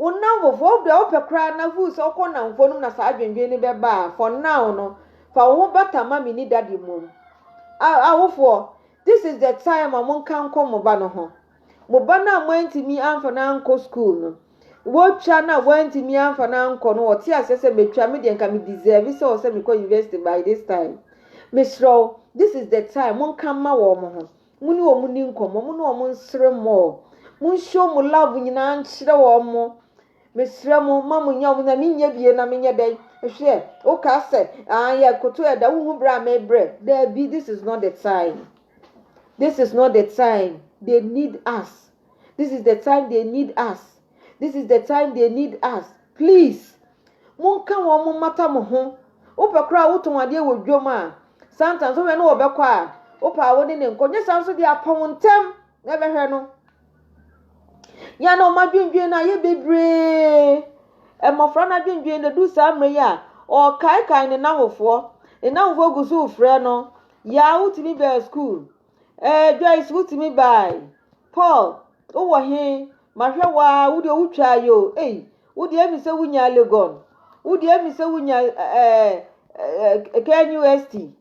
Wo nnamfofo, ɔwɔ bere a wopɛ koraa na hu sɛ wokɔ nnamfo no mu na saa adwendwen no bɛba a, fa ɔnnaw no. Fa wo ho bata ma minni dade mmom. A Awofoɔ, this is the time a monka nkɔ mo ba no ho. Mo ba no a moantumi amfa no ankɔ sukuu no, wotwa no a woantumi amfa no ankɔ no, ɔte aseɛ sɛ, Metwa, me deɛ nka me deserve sɛ ɔsɛ mekɔ university by this time. Mesrɛ wo, this is the time, monka mma wɔn ho. Mo ne wɔn ni nkɔmmɔ, mo ne wɔn nsere mmɔ. Monshow mo love nyinaa nkyerɛ wɔn mo. Mesrɛ mo, ma mo nyɛ wɔn na menyɛ bie na menyɛ dɛn? Hwɛ, wokaa sɛ, ah, yɛ koto ɛda, wohu berɛ a mebrɛ. Daabi, this is not the time. This is not the time. They need us. this is the time they need us this is the time they need us please monka wɔn mo mmata mo ho wopɛ koraa a wotɔn adeɛ wɔ dwom a sometimes wohwɛ no wɔbɛkɔ a wopɛ a wo ne ne nkɔ nyɛ saa nso deɛ apɔn ntɛm na ɛbɛhwɛ no yɛn na wɔn adwendwen no a yɛ bebree mmɔfra no adwendwen no du saa mmerɛ yi a ɔkaekae ne n'ahofoɔ ne n'ahofoɔ gu so frɛ no yaa wotumi bɛɛ school Ɛɛ Joyce wotumi bae. Paul wowɔ he? Mahwɛ wo ara, wo deɛ wotwaa yi o. Ei, wo deɛ ɛmi sɛ wonyaa Legon. Wo deɛ ɛmi sɛ wonyaa ɛɛ ɛɛ KNUST.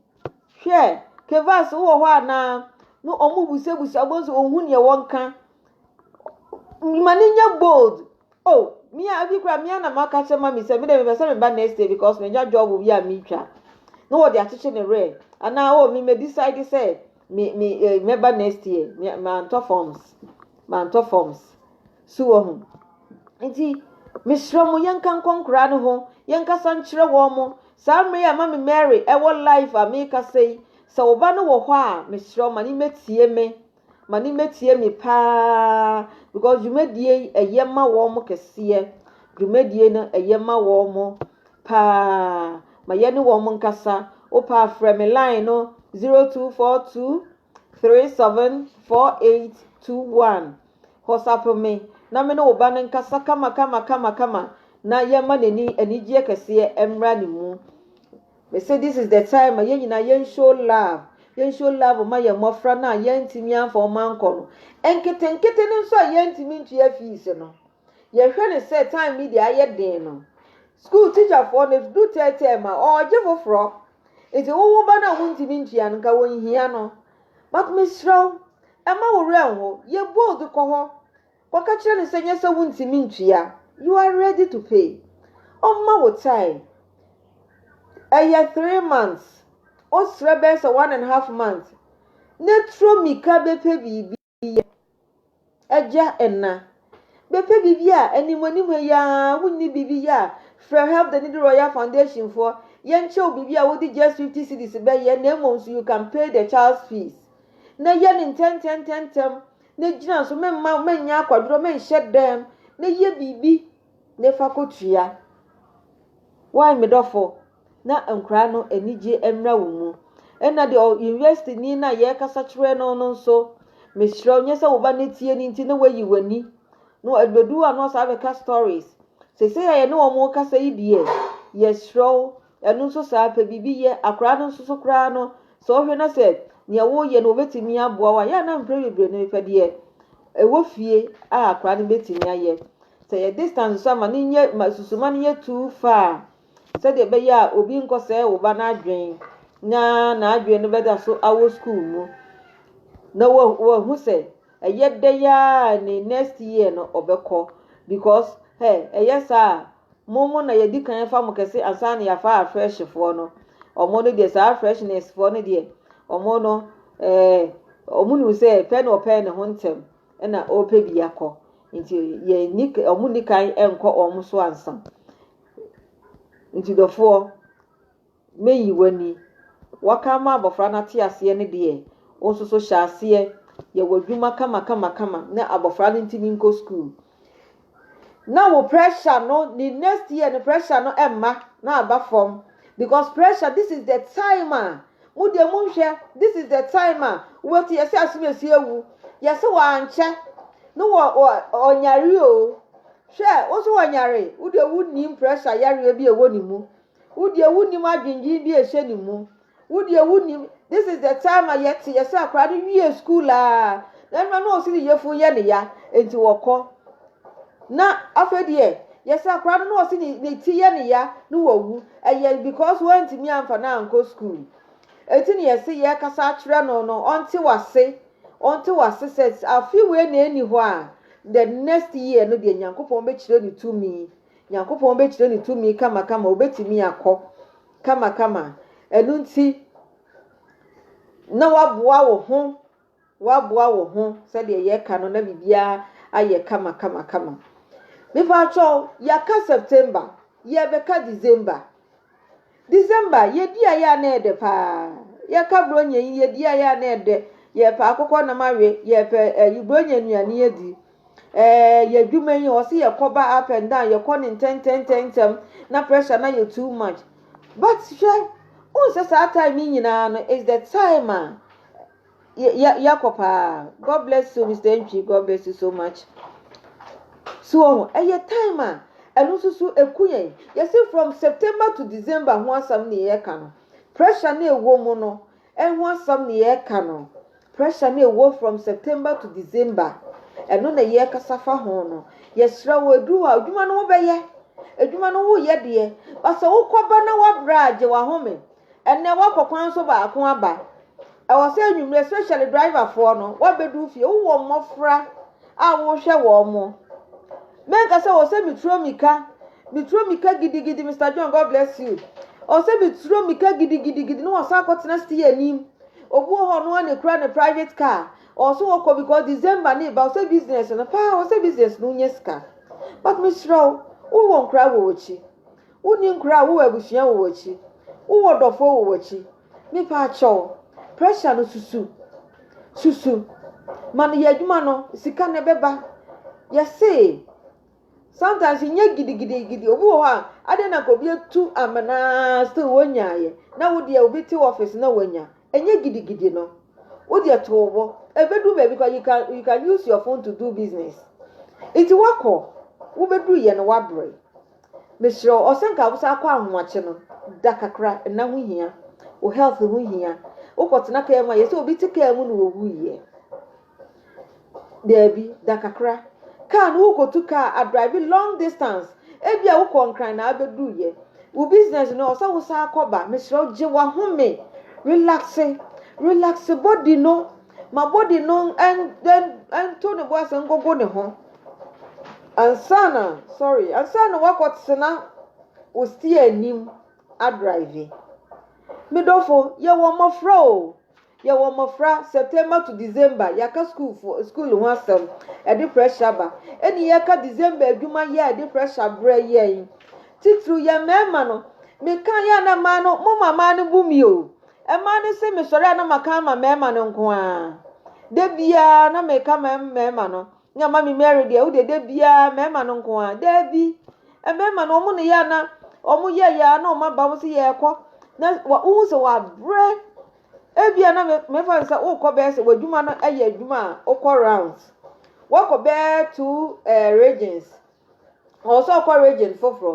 Hwɛ, Kevas wowɔ hɔ anaa? No wɔn busabusa wɔn nso wɔn hu nea wɔn ka. Ma ne nyɛ bold. Oh me a ebi koraa me ara na maka kyerɛ mami sɛ me de mepɛ sɛ meba next year because manya job bi a metwa na wɔde akyekye ne werɛ anaa oh me me decide sɛ me me eh, mɛba next year me mantɔ forms mantɔ forms so wɔ ho nti mesrɛ mo yɛnka nkɔ nkoraa no ho yɛnkasa nkyerɛ wɔn mo saa mmerɛ yi a mami mary ɛwɔ life a mekasa yi sɛ wo ba no wɔ hɔ a mesrɛ wo ma ne mmɛtie me Ma ne mma tie me paa because dwumadie yi ɛyɛ ma wɔn kɛseɛ. Dwumadie no ɛyɛ ma wɔn paa. Ma yɛne wɔn nkasa. Wopɛ a frɛ me line no 0242 374821. WhatsApp me na me ne wo ba no nkasa kama kama kama kama na yɛma n'ani anigyeɛ kɛseɛ mmra ne mu. Me se this is the time ma yɛn nyinaa yɛn show love, yɛn show love ma yɛn mmɔfra no a yɛantumi amfa wɔn ankɔ no, nketenkete no nso a yɛantumi ntua fees no. Yɛhwɛ no sɛ time yi deɛ ayɛ den no, school teacherfoɔ no ɛdu tɛɛtɛɛ mu a wɔregye foforɔ, nti wo wo ba no a wontumi ntua no nka wɔnhia no, but mesrɛ wo, mma wo werɛ nho, yɛ bold kɔ hɔ. Kɔka kyerɛ no sɛ nyɛ sɛ wontumi ntua, you are ready to pay. Ɔmma wo time. Ɛyɛ three months, ɔsrɛ bɛyɛ sɛ one and half month na turo mmirika bɛpɛ biribi yɛ. Agya, ɛna, bɛpɛ biribi a anim anim yi ara wonni biribi yɛ a, frɛ Help the Needy Royal Foundation foɔ, yɛnkyɛ wo biribi a wode just fifty cedis bɛyɛ na mmom nso you can pay the child's fees. Na yɛ no ntɛntɛntɛntɛm. na gyina so, mɛmma mɛnyɛ akwadworɔ, mɛnhyɛ dɛm, na yɛ biribi na fa kɔtua. Wai me dɔfo, na nkwadaa no anigye mmra wo mu. Ɛna deɛ university ni na yɛrekasa kyerɛ no no nso, mesrɛ wo nyɛ sɛ wo ba no tie no nti na wayi w'ani. No ɛbɛdu a na ɔsaa bɛka stories. Sɛsɛ a yɛne wɔn rekasa yi deɛ, yɛsrɛ wo Ɛno nso saa ara, pɛ biribi yɛ. Akwadaa no nso so koraa no, sɛ wohwɛ na sɛ nea woreyɛ no wɔbɛtumi aboa wo a, yɛ a na mprɛ bebree no mepɛ deɛ ɛwɔ fie a akwadaa no bɛtumi ayɛ. Sɛ yɛ distance nso a, ma no nyɛ ma susuma no nyɛ too far sɛdeɛ ɛbɛyɛ a obi nkɔsɛe wo ba no adwene na n'adwene no bɛda so awɔ sukuu mu na wahu sɛ ɛyɛ dɛ yɛ a ne next year no ɔbɛkɔ because hey, ɛyɛ saa a mo mo na yɛdi kan fa mo kɛse ansa na yɛafa afrɛhyefoɔ no ɔmo no deɛ saa freshnesfoɔ no deɛ ɔmo no ɛɛ eh, ɔmo nim sɛ pɛ na ɔpɛ ne ho ntɛm ɛna ɔpɛ bi akɔ nti yɛn ni ɔmo ni kan ɛnkɔ ɔmo so ansa nti dɔfoɔ na yi w'ani. Wɔaka ama abɔfra no ate aseɛ no deɛ, wo nso so hyɛ aseɛ yɛ w'adwuma kamakamakama na abɔfra no ntumi nkɔ sukuu. Na wo pressure no, ne next year no pressure no mma na aba fam because pressure, this is the time a mo deɛ monhwɛ, this is the time a wobɛti yɛsɛ asomasi awu, yɛsɛ wɔ ankyɛ no wɔ ɔnyare o, hwɛ wo nso wɔnyare, wo deɛ wonnim pressure yareɛ bi a ɛwɔ ne mu. Wo deɛ wonim adwendwen bi a ɛhyɛ ne mu. Wo deɛ wonim this is the time a yɛte yɛ sɛ akwadaa no wie school a na ɛno na ɔsi ne yefo yɛ ne ya nti wɔkɔ na afei deɛ yɛ sɛ akwadaa no na ɔsi ne ne ti yɛ ne ya na wawu ɛyɛ because wɔntumi amfa no ankɔ school eti ne yɛse yɛkasa akyerɛ no no ɔnte wase ɔnte wase sɛ afi wei na ɛni hɔ a the next year no deɛ nyankopɔn bɛkyerɛ ne tumi Nyankopɔn bɛkyerɛ ne tumi kamakama, ɔbɛtumi akɔ kamakama. Ɛno nti, na waboa wo ho, waboa wo ho sɛdeɛ yɛka no na biribiara ayɛ kama kama kama. Mepaatwɔ, yɛaka September, yɛbɛka December. December yɛdi ayɛ a na ɛdɛ paa yɛka bronya yi yɛdi ayɛ a na ɛdɛ yɛpɛ akokɔ nam awe yɛpɛ ɛyi bronya nnuane adi ɛɛ yɛ adwuma yi ɔsi yɛkɔ ba up and down yɛkɔ ne ntɛntɛntɛntɛm na pressure na yɛ too much but hwɛ nsɛ saa time yi nyinaa no is the time a Yɛ yɛ kɔ paa. God bless you Mr. Entwi. God bless you so much. So wɔn ɛyɛ time a ɛno nso so eku yɛn. Yɛsi from September to December ho asɛm na yɛka no. Pressure na ɛwɔ mu no ɛho asɛm na yɛka no. Pressure na ɛwɔ from September to December. Ɛno na yɛkasa fa ho no. Yɛsrɛ wɔ aduru hɔ a adwuma no wobɛyɛ. Adwuma no woyɛ deɛ. Basɛ wokɔba na wabrɛ a gye wahome. Ɛnnɛ woakɔ kwan so baako aba. Ɛwɔ sɛ anwumerɛ especially driver foɔ no wabɛdu fie. Wowɔ mmɔfra a wohwɛ wɔn mo. Mɛnka sɛ wɔ sɛ meturo mika. Meturo mika gidigidi Mister John God bless you. Wɔ sɛ meturo mika gidigidigidi ne wɔsan akɔ tena steer anim. Obi wɔ hɔ no a ne kura ne private car. Wɔ sɛ wɔkɔ because December ne ba wɔ sɛ business no paa wɔ sɛ business no wonya sika. But mesrɛ wo wowɔ nkora wɔ wɔkyi. Wonni nkura a wowɔ abusua wɔ wakyi wowɔ dɔfoɔ wɔ wakyi mepaakyɛw pressure no susu susu ma no yɛ adwuma no sika no ɛbɛba yɛsee sometimes nyɛ gidigidi gidi obi wɔ hɔ a adɛn na nka obi atu amenaa still wonyaayɛ na wo deɛ obi te office na wanya ɛnyɛ gidigidi no wo deɛ too bo ɛbɛduru baabi kɔ you can you can use your phone to do business nti wakɔ wobɛduru yɛ no wabrɛ Mesrɛ wo ɔsɛnka wo saa kɔ ahomakye no da kakra nna ho hia wo health ho hia wokɔ tena kaa mu a yɛsɛ obi te kaa mu na owu yɛ daabi da kakra kaa no wokotu kaa a drive long distance ebi a wokɔ nkran na abedu yɛ wo business no ɔsɛ wo saa kɔba mesrɛ wo gye wahome relaxe relaxe body no Ma body no nto ne bo ase nkogo ne ho ansa na sorry ansa na wakɔ tena wo steer anim adrive. Me dɔfo yɛ wɔ mmɔfra o yɛ wɔ mmɔfra September to December yɛaka school fo school ho asɛm ɛde pressure ba ɛne yɛka December adwuma yɛ ɛde pressure brɛ yɛn titiriw yɛ mmarima no meka yɛ na mmaa no mo ma mmaa no bu mi o Mmaa no se, Mesɔre a na maka ama mmarima no nko ara. Da biara na meka ma mmarima no. Na Mami Mary deɛ, wo deɛ da biara mmarima no nko ara. Daabi, mmarima no, wɔn na yɛ a na wɔn yɛ yɛ a na wɔn aba wɔn se yɛrekɔ. Na wohu sɛ wɔabrɛ. Ebia na me mefa no sɛ wokɔ bɛyɛ sɛ w'adwuma no yɛ adwuma a wokɔ rounds. Woakɔ bɛyɛ two eh, regions. Ɔwɔ sɛ ɔkɔ region foforɔ.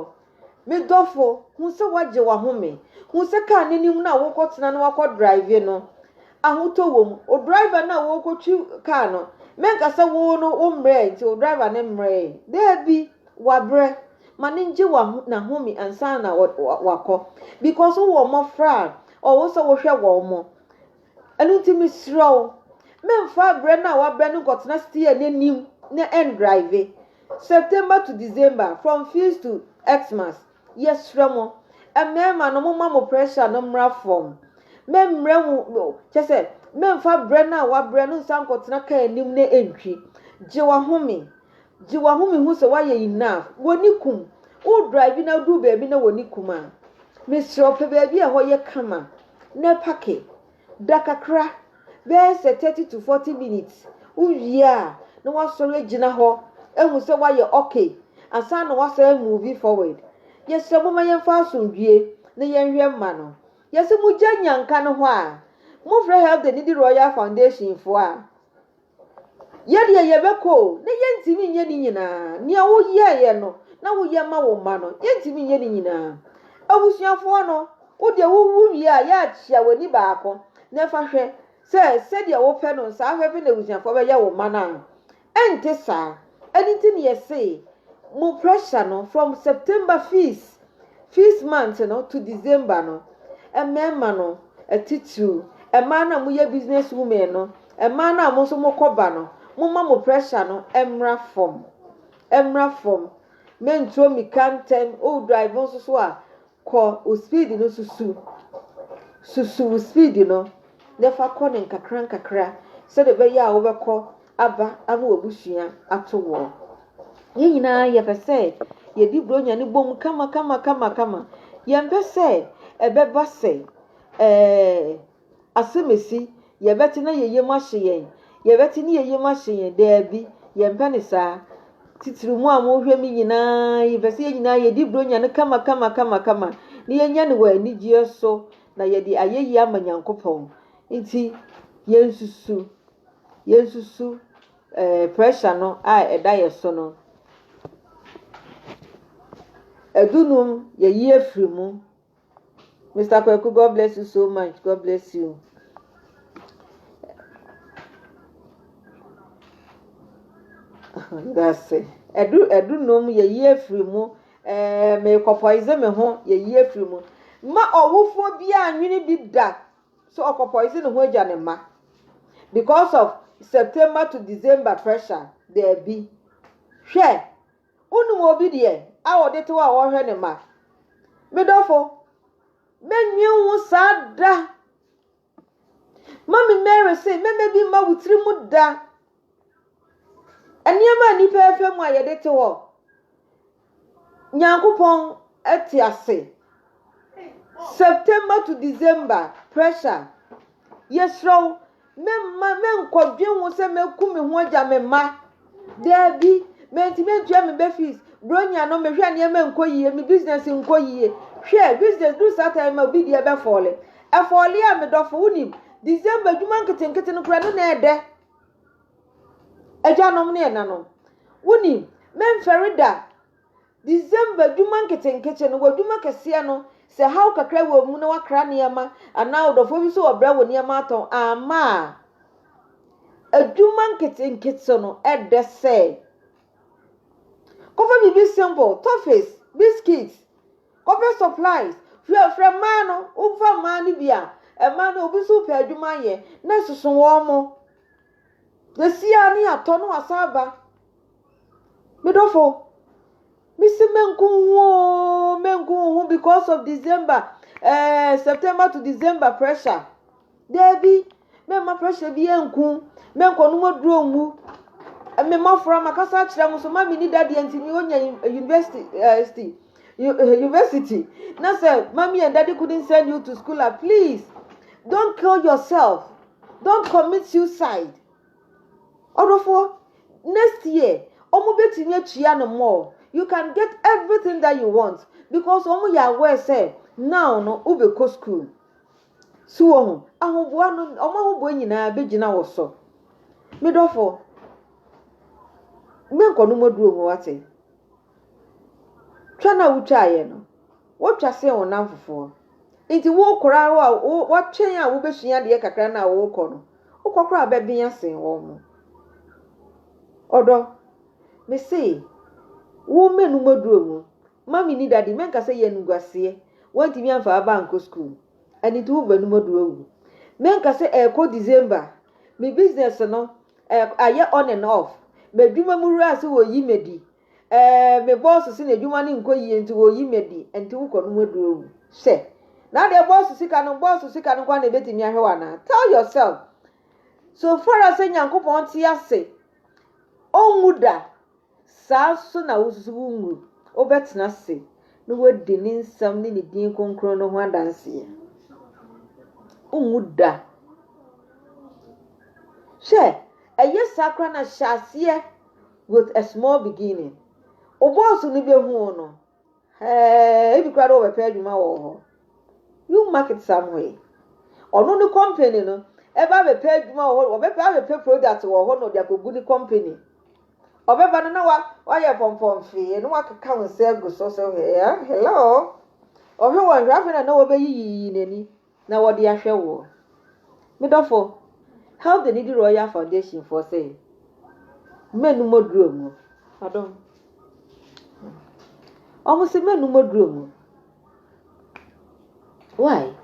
Me dɔfo, hu sɛ woagye w'ahome. Hu sɛ kaa no anim no a worekɔtena na woakɔ drive no, ahotɔ wɔ mu. Wo driver no a worekɔtwi kaa no, menka sɛ wo no wo mmerɛɛ nti wo driver no mmerɛɛ. Daabi, wabrɛ. Ma no ngye n'ahome ansa na wakɔ. Because wowɔ mmɔfra a, ɔwɔ sɛ wohwɛ wɔn. Ɛno nti mesrɛ wo, mɛmfa berɛ no a woabrɛ no nkɔtena steer no anim na ɛndrive. September to December, from feast to Xmas, yɛsrɛ mo, mmarima no momma mo pressure no mmra fam. Mɛmmerɛ mo, kyɛ sɛ, mɛmfa berɛ no a woabrɛ no nsan nkɔtena kaa anim na ɛntwi. Gye w'ahome. Gye w'ahome hu sɛ woayɛ enough. W'ani kum. Wo drive na woduru baabi na w'ani kum a, mesrɛ wo, pɛ baabi a ɛhɔ yɛ kama. na pake da kakra, bɛyɛ sɛ thirty to forty minutes, wowie a na woasɔre agyina hɔ ahu sɛ woayɛ okay ansa na woasan a move forward. Yɛsrɛ momma yɛmfa asomdwoe na yɛnhwɛ mma no. Yɛse mogya nya nka no hɔ a, mofrɛ Help the Needy Royal Foundation foɔ a, Yɛ deɛ yɛbɛkɔ o, na yɛntumi nyɛ ne nyinaa. Nea woyɛeɛ no, na woyɛ ma wo mma no, yɛntumi nyɛ ne nyinaa. Abusuafoɔ no, wo deɛ wowu wie a, yɛ akyea w'ani baako, na fa hwɛ sɛ sɛdeɛ wopɛ no saa fɛfɛ na abusuafoɔ bɛyɛ wo mma no a. Ɛnte saa. Ɛno nti na yɛse mo pressure no from September fees First month no to December no, mmarima no atitiriw, mmaa no a moyɛ business women no, mmaa no a mo nso mokɔ ba no, momma mo pressure no mmra fam. Mmra fam. Mentuo mmirika ntɛm. O drive nso so a, kɔ wo speed no susu. Susu wo speed no na fa kɔ no nkakra nkakra sɛdeɛ ɛbɛyɛ a wobɛkɔ aba ama w'abusua ato woɔ. Yɛn nyinaa yɛpɛ sɛ yɛdi Buronya no bom kama kama kama kama. Yɛmpɛ sɛ ɛbɛba sɛ ɛɛ asɛm esi yɛbɛte na yɛn yam ahye yɛn. Yɛbɛte ne yɛn yam ahye yɛn. Daabi, yɛmpɛ ne saa. Titiriw mo a mohwɛ me nyinaa, yɛpɛ sɛ yɛn nyinaa yɛdi Buronya no kama kama kama kama na yɛnya no wɔ anigyeɛ so na yɛde ayɛyi ama Nyankopɔn. Nti, yɛnsusu Yensusu ɛɛ pressure no a ɛda yɛn so no. Adunum, yɛyi afiri mu. Mister Kwaku, God bless you so much, God bless you. Dase. Ɛdu ɛdunum, yɛyi afiri mu. Ɛɛ meekɔ poison me ho, yɛyi afiri mu. Ma ɔwofoɔ biara nwene bi da So ɔkɔpoison ne ho agya ne mma because of September to December pressure? Daabi. Hwɛ, wonim obi deɛ a ɔde tew a ɔhwɛ ne mma? Me dɔfo, mɛnwen wo saa da. Mami Mary se, mɛmɛ bi mma wo tiri mu da. Nneɛma a nnipa refa mu a yɛde te hɔ. Nyankopɔn te ase. September to December pressure. Yɛsrɛ wo, mɛmma mɛnkɔdwen ho sɛ mɛku me ho agya me mma. Daabi, mantumi antua me ba fees. Bronya no, mehwɛ a nneɛma nkɔ yie, me business nkɔ yie. Hwɛ, business duru saa time ma obi deɛ bɛfɔɔle. Ɛfɔɔle a, me dɔfo, wonim, December adwuma nketenkete no koraa, ɛno na ɛdɛ. Agyanom ne ɛnanom, wonim, mɛmfɛre da. December dwuma nketenkete no, w'adwuma kɛseɛ no, sɛ haw kakra wɔ mu na wakra nneɛma anaa ɔdɔfoɔ bi so ɔbrɛ wo nneɛma atɔn amma a, adwuma nketenkete no ɛdɛ sɛ. Kɔfa biribi simple, toffees, biscuits, Kɔpɛ supplies, frɛ frɛ mmaa no, wo fa mmaa no bi a, mmaa no obi nso pɛ adwuma ayɛ, na soso wɔn mo. Yɛ si a ne yɛ atɔ no asan aba. Me dɔfo, me si me nko ho oo, me nko ho because of December, eh, September to December pressure. Dabi, mɛmma pressure biara nku wo, mɛnkɔ nom aduro nwu. Me mmɔfra, makasa akyerɛ mo so, mami ne dadeɛ nti me onya university, university, university. Na sɛ mami and daddy couldn't send you to school, ah, please, don't kill yourself, don't commit suicide. Ɔdɔfoɔ, next year, ɔmo betumi atua no more. You can get everything that you want because ɔmo yɛ aware sɛ now no wobɛkɔ school. So wohu? Ahoboa no, wɔn ahoboa nyinaa bɛgyina wo so. Me dɔfo, menkɔ no mɔduro ho wate. Twa no a wotwaeɛ no, wotwa sen wo namfofoɔ. Nti wokora wo a wɔtwɛn a wobɛsua adeɛ kakra no a wokɔ no, wokɔ koraa wobɛbea sen wɔn mo. Ɔdɔ, me se, wo mɛnu mɔduro mu. Mummy ne Daddy, mɛnka sɛ yɛ animguaseɛ, wɔantumi amfa aba ankɔ school, ɛno nti wo banom ɔdɔ awu. Mɛnka sɛ ɛrekɔ December, me business no ɛɛ ayɛ on and off, m'adwuma mu wura se wɔreyi me adi, ɛɛ me boss se n'adwuma no nkɔ yie nti wɔreyi me adi, ɛno nti wo kɔnom ɔdɔ awu. Hwɛ! Na adeɛ boss sika no, boss sika no nko ara na ɛbɛtumi ahwɛ wo anaa? Tell yourself, so far as sɛ Nyankopɔn te ase, ɔnwu da. Saa ara nso na wo nso wo mu wobɛtena ase na woadi ne nsɛm ne ne din kronkron no ho adanseɛ. Wonwu da. Hwɛ, ɛyɛ saa koraa na hyɛ aseɛ with a small beginning. Wo boss no bɛhu wo no, Hɛɛ ebi koraa de wɔbɛpɛ adwuma wɔ hɔ. You mark it somewhere. Ɔno ne company no ɛba abɛpɛ adwuma wɔ hɔ wɔbɛpɛ abɛpɛ product wɔ hɔ na ɔde akɔgu ne company. Ɔbɛba no na wa wayɛ pɔmpɔmfee na wakeka wo nsa agu so so hɛɛ hello. Ɔhwɛ wɔn hwɛ afei na na wɔbɛyiyiyi n'ani. na wɔde ahwɛ woɔ. Me dɔfo, help the needy Royal Foundation foɔ sɛ mɛnum aduro mu. Pardon. Wɔn se mɛnum aduro mu. Why?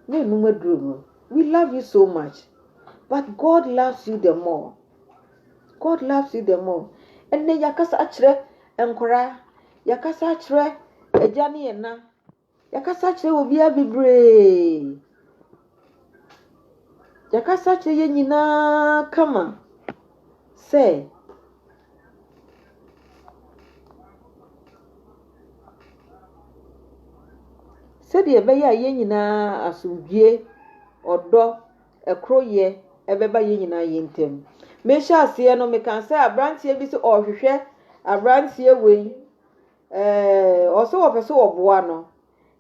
Mɛnum aduro mu. We love you so much. But God loves you the more. God loves you the more. Ɛnɛ yɛakasa akyerɛ nkwaraa, yɛakasa akyerɛ agya ne ɛna, Yɛkasa kyerɛ obiara bebree. Yɛkasa kyerɛ yɛn nyinaa kama sɛ sɛdeɛ ɛbɛyɛ a yɛn nyinaa asomdwoeɛ, ɔdɔ, ɛkoroyɛ ɛbɛba yɛn nyinaa yɛn ntam. Mehyɛ aseɛ no, mekaa sɛ aberanteɛ bi sɛ ɔrehwehwɛ aberanteɛ wei. Ɛɛ, ɔsɛ wɔpɛ sɛ wɔboa no.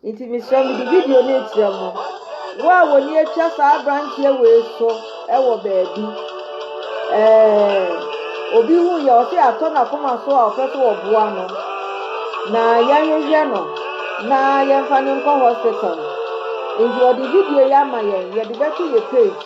Nti mesrɛ mede video no rekyerɛ mo. Wo a w'ani atwa saa aberanteɛ wei so wɔ baabi. Ɛɛ, obi hu yɛ ɔsɛ yɛatɔ n'akoma so a ɔpɛ sɛ wɔboa no. Na yɛhwehwɛ no na yɛmfa no nkɔ hospital. Nti ɔde video yi ama yɛn, yɛde bɛto yɛ page.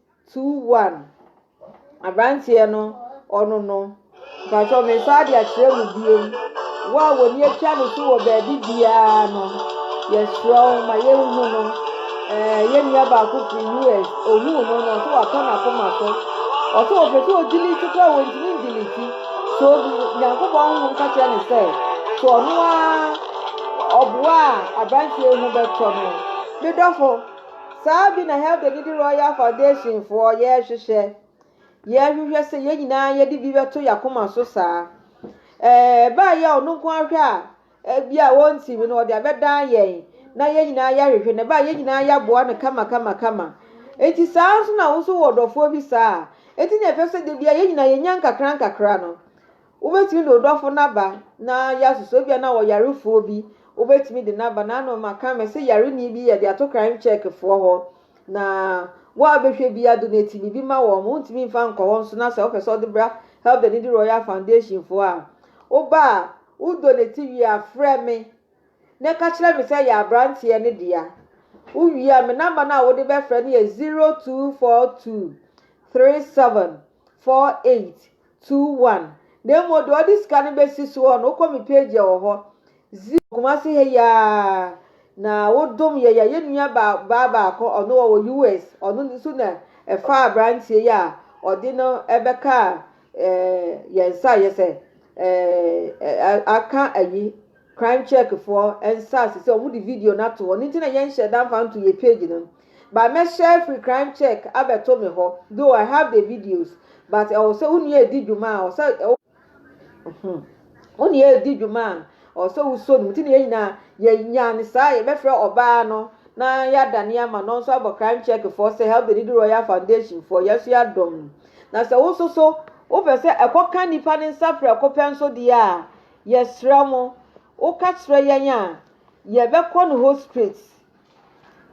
Two one abranteɛ no ɔno no mpakyɛw me nsa de akyerɛ mu bio wo a wɔn ni atwa no so wɔ baabi biara no yɛsrɛ wo ma yɛnhu no ɛɛ eh, yɛn nua baako firi us ohuu no no ɔso watɔ n'akoma so ɔso ɔpɛ sɛ ɔdili ti kora wɔntumi ndili ti so nyankopɔn honhom ka kyerɛ ne sɛ so ɔno a ɔboa a abranteɛ ho bɛtɔ no medɔfo Saa bi na Health and Needy Royal Foundation foɔ yɛrehwehwɛ. Yɛrehwehwɛ sɛ yɛn nyinaa yɛde bi bɛto yɛakoma so saa. Ɛbaa yɛ a ɔno nko ahwɛ a ebi a wɔntumi no ɔde abɛdan yɛn na yɛn nyinaa yɛahwehwɛ na ɛbaa yɛn nyinaa yɛaboa no kama kama kama. Enti saa nso na wo nso wɔ dɔfoɔ bi saa a, enti na ɛfɛ sɛ da biara yɛn nyinaa yɛnya nkakra nkakra no. Wobɛtumi de wo dɔfo no aba na yɛasosɔ, ebia na ɔwɔ yarefoɔ bi, wobɛtumi de no aba, naano maka me se yareni bi yɛde ato crime check foɔ hɔ, na wo a wobɛhwɛ bi ado no ɛtumi bi ma wɔn, wontumi mfa nkɔ hɔ nso na sɛ wopɛ sɛ wode bra help the needy royal foundation foɔ a, woba a wo donate wie a frɛ me na ɛka kyerɛ me sɛ yɛ abranteɛ no dea, wo wie a me number no a wode bɛfrɛ no yɛ 0242 37 48 Two one. Na mmom deɛ ɔde sika no bɛsi soɔ no, wokɔ me page a ɛwɔ hɔ. Zero. Kumasi ha yi ara na wodom yɛn, yɛn nua ba baa baako ɔno wɔwɔ US, ɔno nso na ɛfaa aberanteɛ yi a ɔde no bɛkaa ɛɛ eh, yɛn nsa a yɛsɛ ɛɛ eh, eh, aka ayi crime check foɔ nsaase sɛ wɔn de video no ato hɔ ne nti na yɛn hyɛ danfa nto yɛ page no. but mɛhyɛ free crime check abɛto me hɔ though I have the videos but ɛwɔ sɛ wo nua edi dwuma a ɔsɛ ɛwɔ hmm wo nua edi dwuma a ɔsɛ wosɔ no mu ti na yɛn nyinaa yɛnya ne saa yɛbɛfrɛ ɔbaa no na yɛada ne ama no nso abɔ crime check foɔ sɛ help the needy royal foundation foɔ yɛn nso yɛadɔm no na sɛ wo nso so wopɛ sɛ ɛkɔka nnipa ne nsa prɛko pɛ nso deɛ a yɛsrɛ mo woka kyerɛ yɛn a yɛbɛkɔ no hɔ straight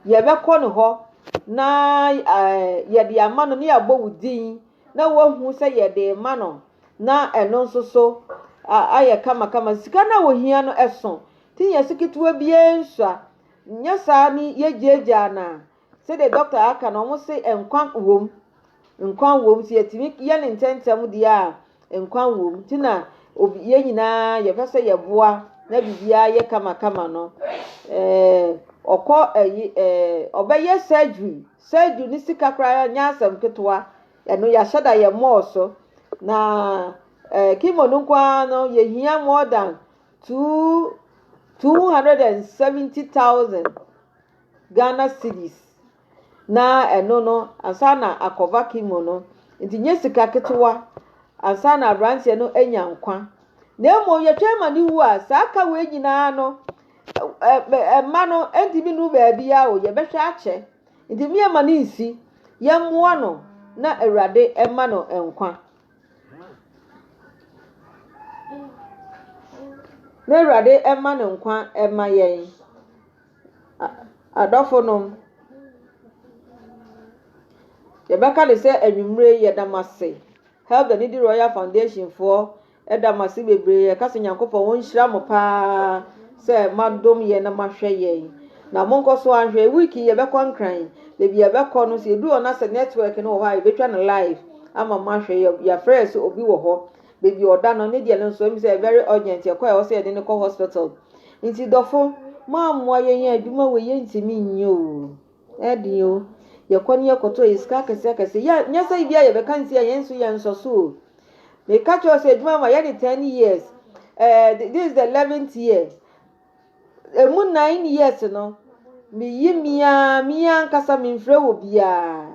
Yɛbɛkɔ ne hɔ na yɛde ama no na yɛabɔ wo din na wahu sɛ yɛde rema no na ɛno nso so ayɛ kamakama. Sika no a wɔhia no ɛso nti nyɛ so ketewa biara nsua. Nyɛ saa ne yɛgyaagyaa no a sɛdeɛ dɔkta aka no wɔn se nkwa wom. Nkwa wɔ mu. Sɛ yɛtumi yɛ no ntɛmntɛm deɛ a, nkwa wɔ mu. Nti na obi yɛn nyinaa yɛpɛ sɛ yɛboa na biribiara yɛ kamakama no. Ɛɛ ɔkɔ ɛyi ɛɛ ɔbɛyɛ surgery. Surgery ne sika koraa nyɛ asɛm ketewa. Ɛno yɛahyɛ da yɛ mmɔɔ so. Na ɛɛ kimo no nko ara no yɛhia more than two two hundred and seventy thousand Ghana cedis. na ɛno no ansa na akɔva chemo no nti nyɛ sika ketewa ansa na aberanteɛ no anya nkwa na mmom yɛtwɛn ma ne wu a saa ka wei nyinaa no mma no ntumi nu baabi a o yɛbɛhwɛ akyɛ nti mmea ma ne nsi yɛmmoa no na awurade mma no nkwa na awurade mma no nkwa mma yɛn. Adɔfonom, yɛbɛka no sɛ anwummere yi yɛda mo ase. Health and Needy Royal Foundation foɔ ɛda mo ase bebree. Yɛka sɛ Nyankopɔn wɔnhyira mo paa sɛ moadom yɛn na moahwɛ yɛn. Na monkɔ so ahwɛ week yi yɛbɛkɔ Nkran. Baabi yɛbɛkɔ no sɛ yɛdu hɔ na sɛ network no wɔ hɔ a yɛbɛtwa no live ama moahwɛ. Yɛafrɛ yɛ sɛ obi wɔ hɔ. Baby ɔda no ne deɛ no nso ɛmi sɛ very urgent ɛkɔ a ɛwɔ sɛ yɛde no kɔ hospital nti dɔfo mo amoa yɛn yɛn adwuma wɔ yɛn ntumi nyɛ o ɛden o yɛkɔ ne yɛkɔtɔ yɛ sika akɛse akɛse yɛ nyɛ sɛ ibi a yɛbɛka nti a yɛn nso yɛn nsɔ so o meka kyerɛ sɛ adwuma ma yɛ ne ten years ɛɛ eh, this is the eleventh year emu nine years no meyi mia mia ankasa memfrɛ wɔ biara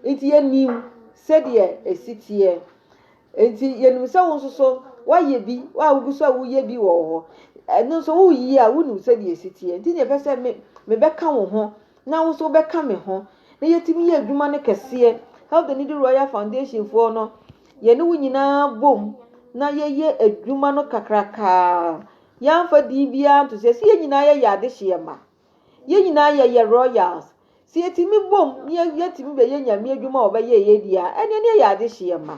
nti yɛnim sɛdeɛ ɛsi teɛ. Enti yɛnim sɛ wo nso so woayɛ bi, wo a wogu so a woyɛ bi wɔ hɔ, ɛno nso woreyi a wonim sɛdeɛ ɛsi teɛ. Nti na yɛpɛ sɛ me, mebɛka wo ho na wo nso wobɛka me ho na yɛtumi yɛ adwuma no kɛseɛ. Help the Needy Royal Foundation foɔ no, yɛne wo nyinaa bom na yɛyɛ adwuma no kakrakaa. Yɛamfa din biara nto so. Ɛsɛ yɛn nyinaa yɛyɛ adehyeɛ ma. Yɛn nyinaa yɛyɛ royals. Sɛ yɛtumi bom na yɛtumi bɛyɛ Nyame adwuma a ɔbɛyɛ yɛ di a, ɛneɛ ne yɛyɛ adehyeɛ ma.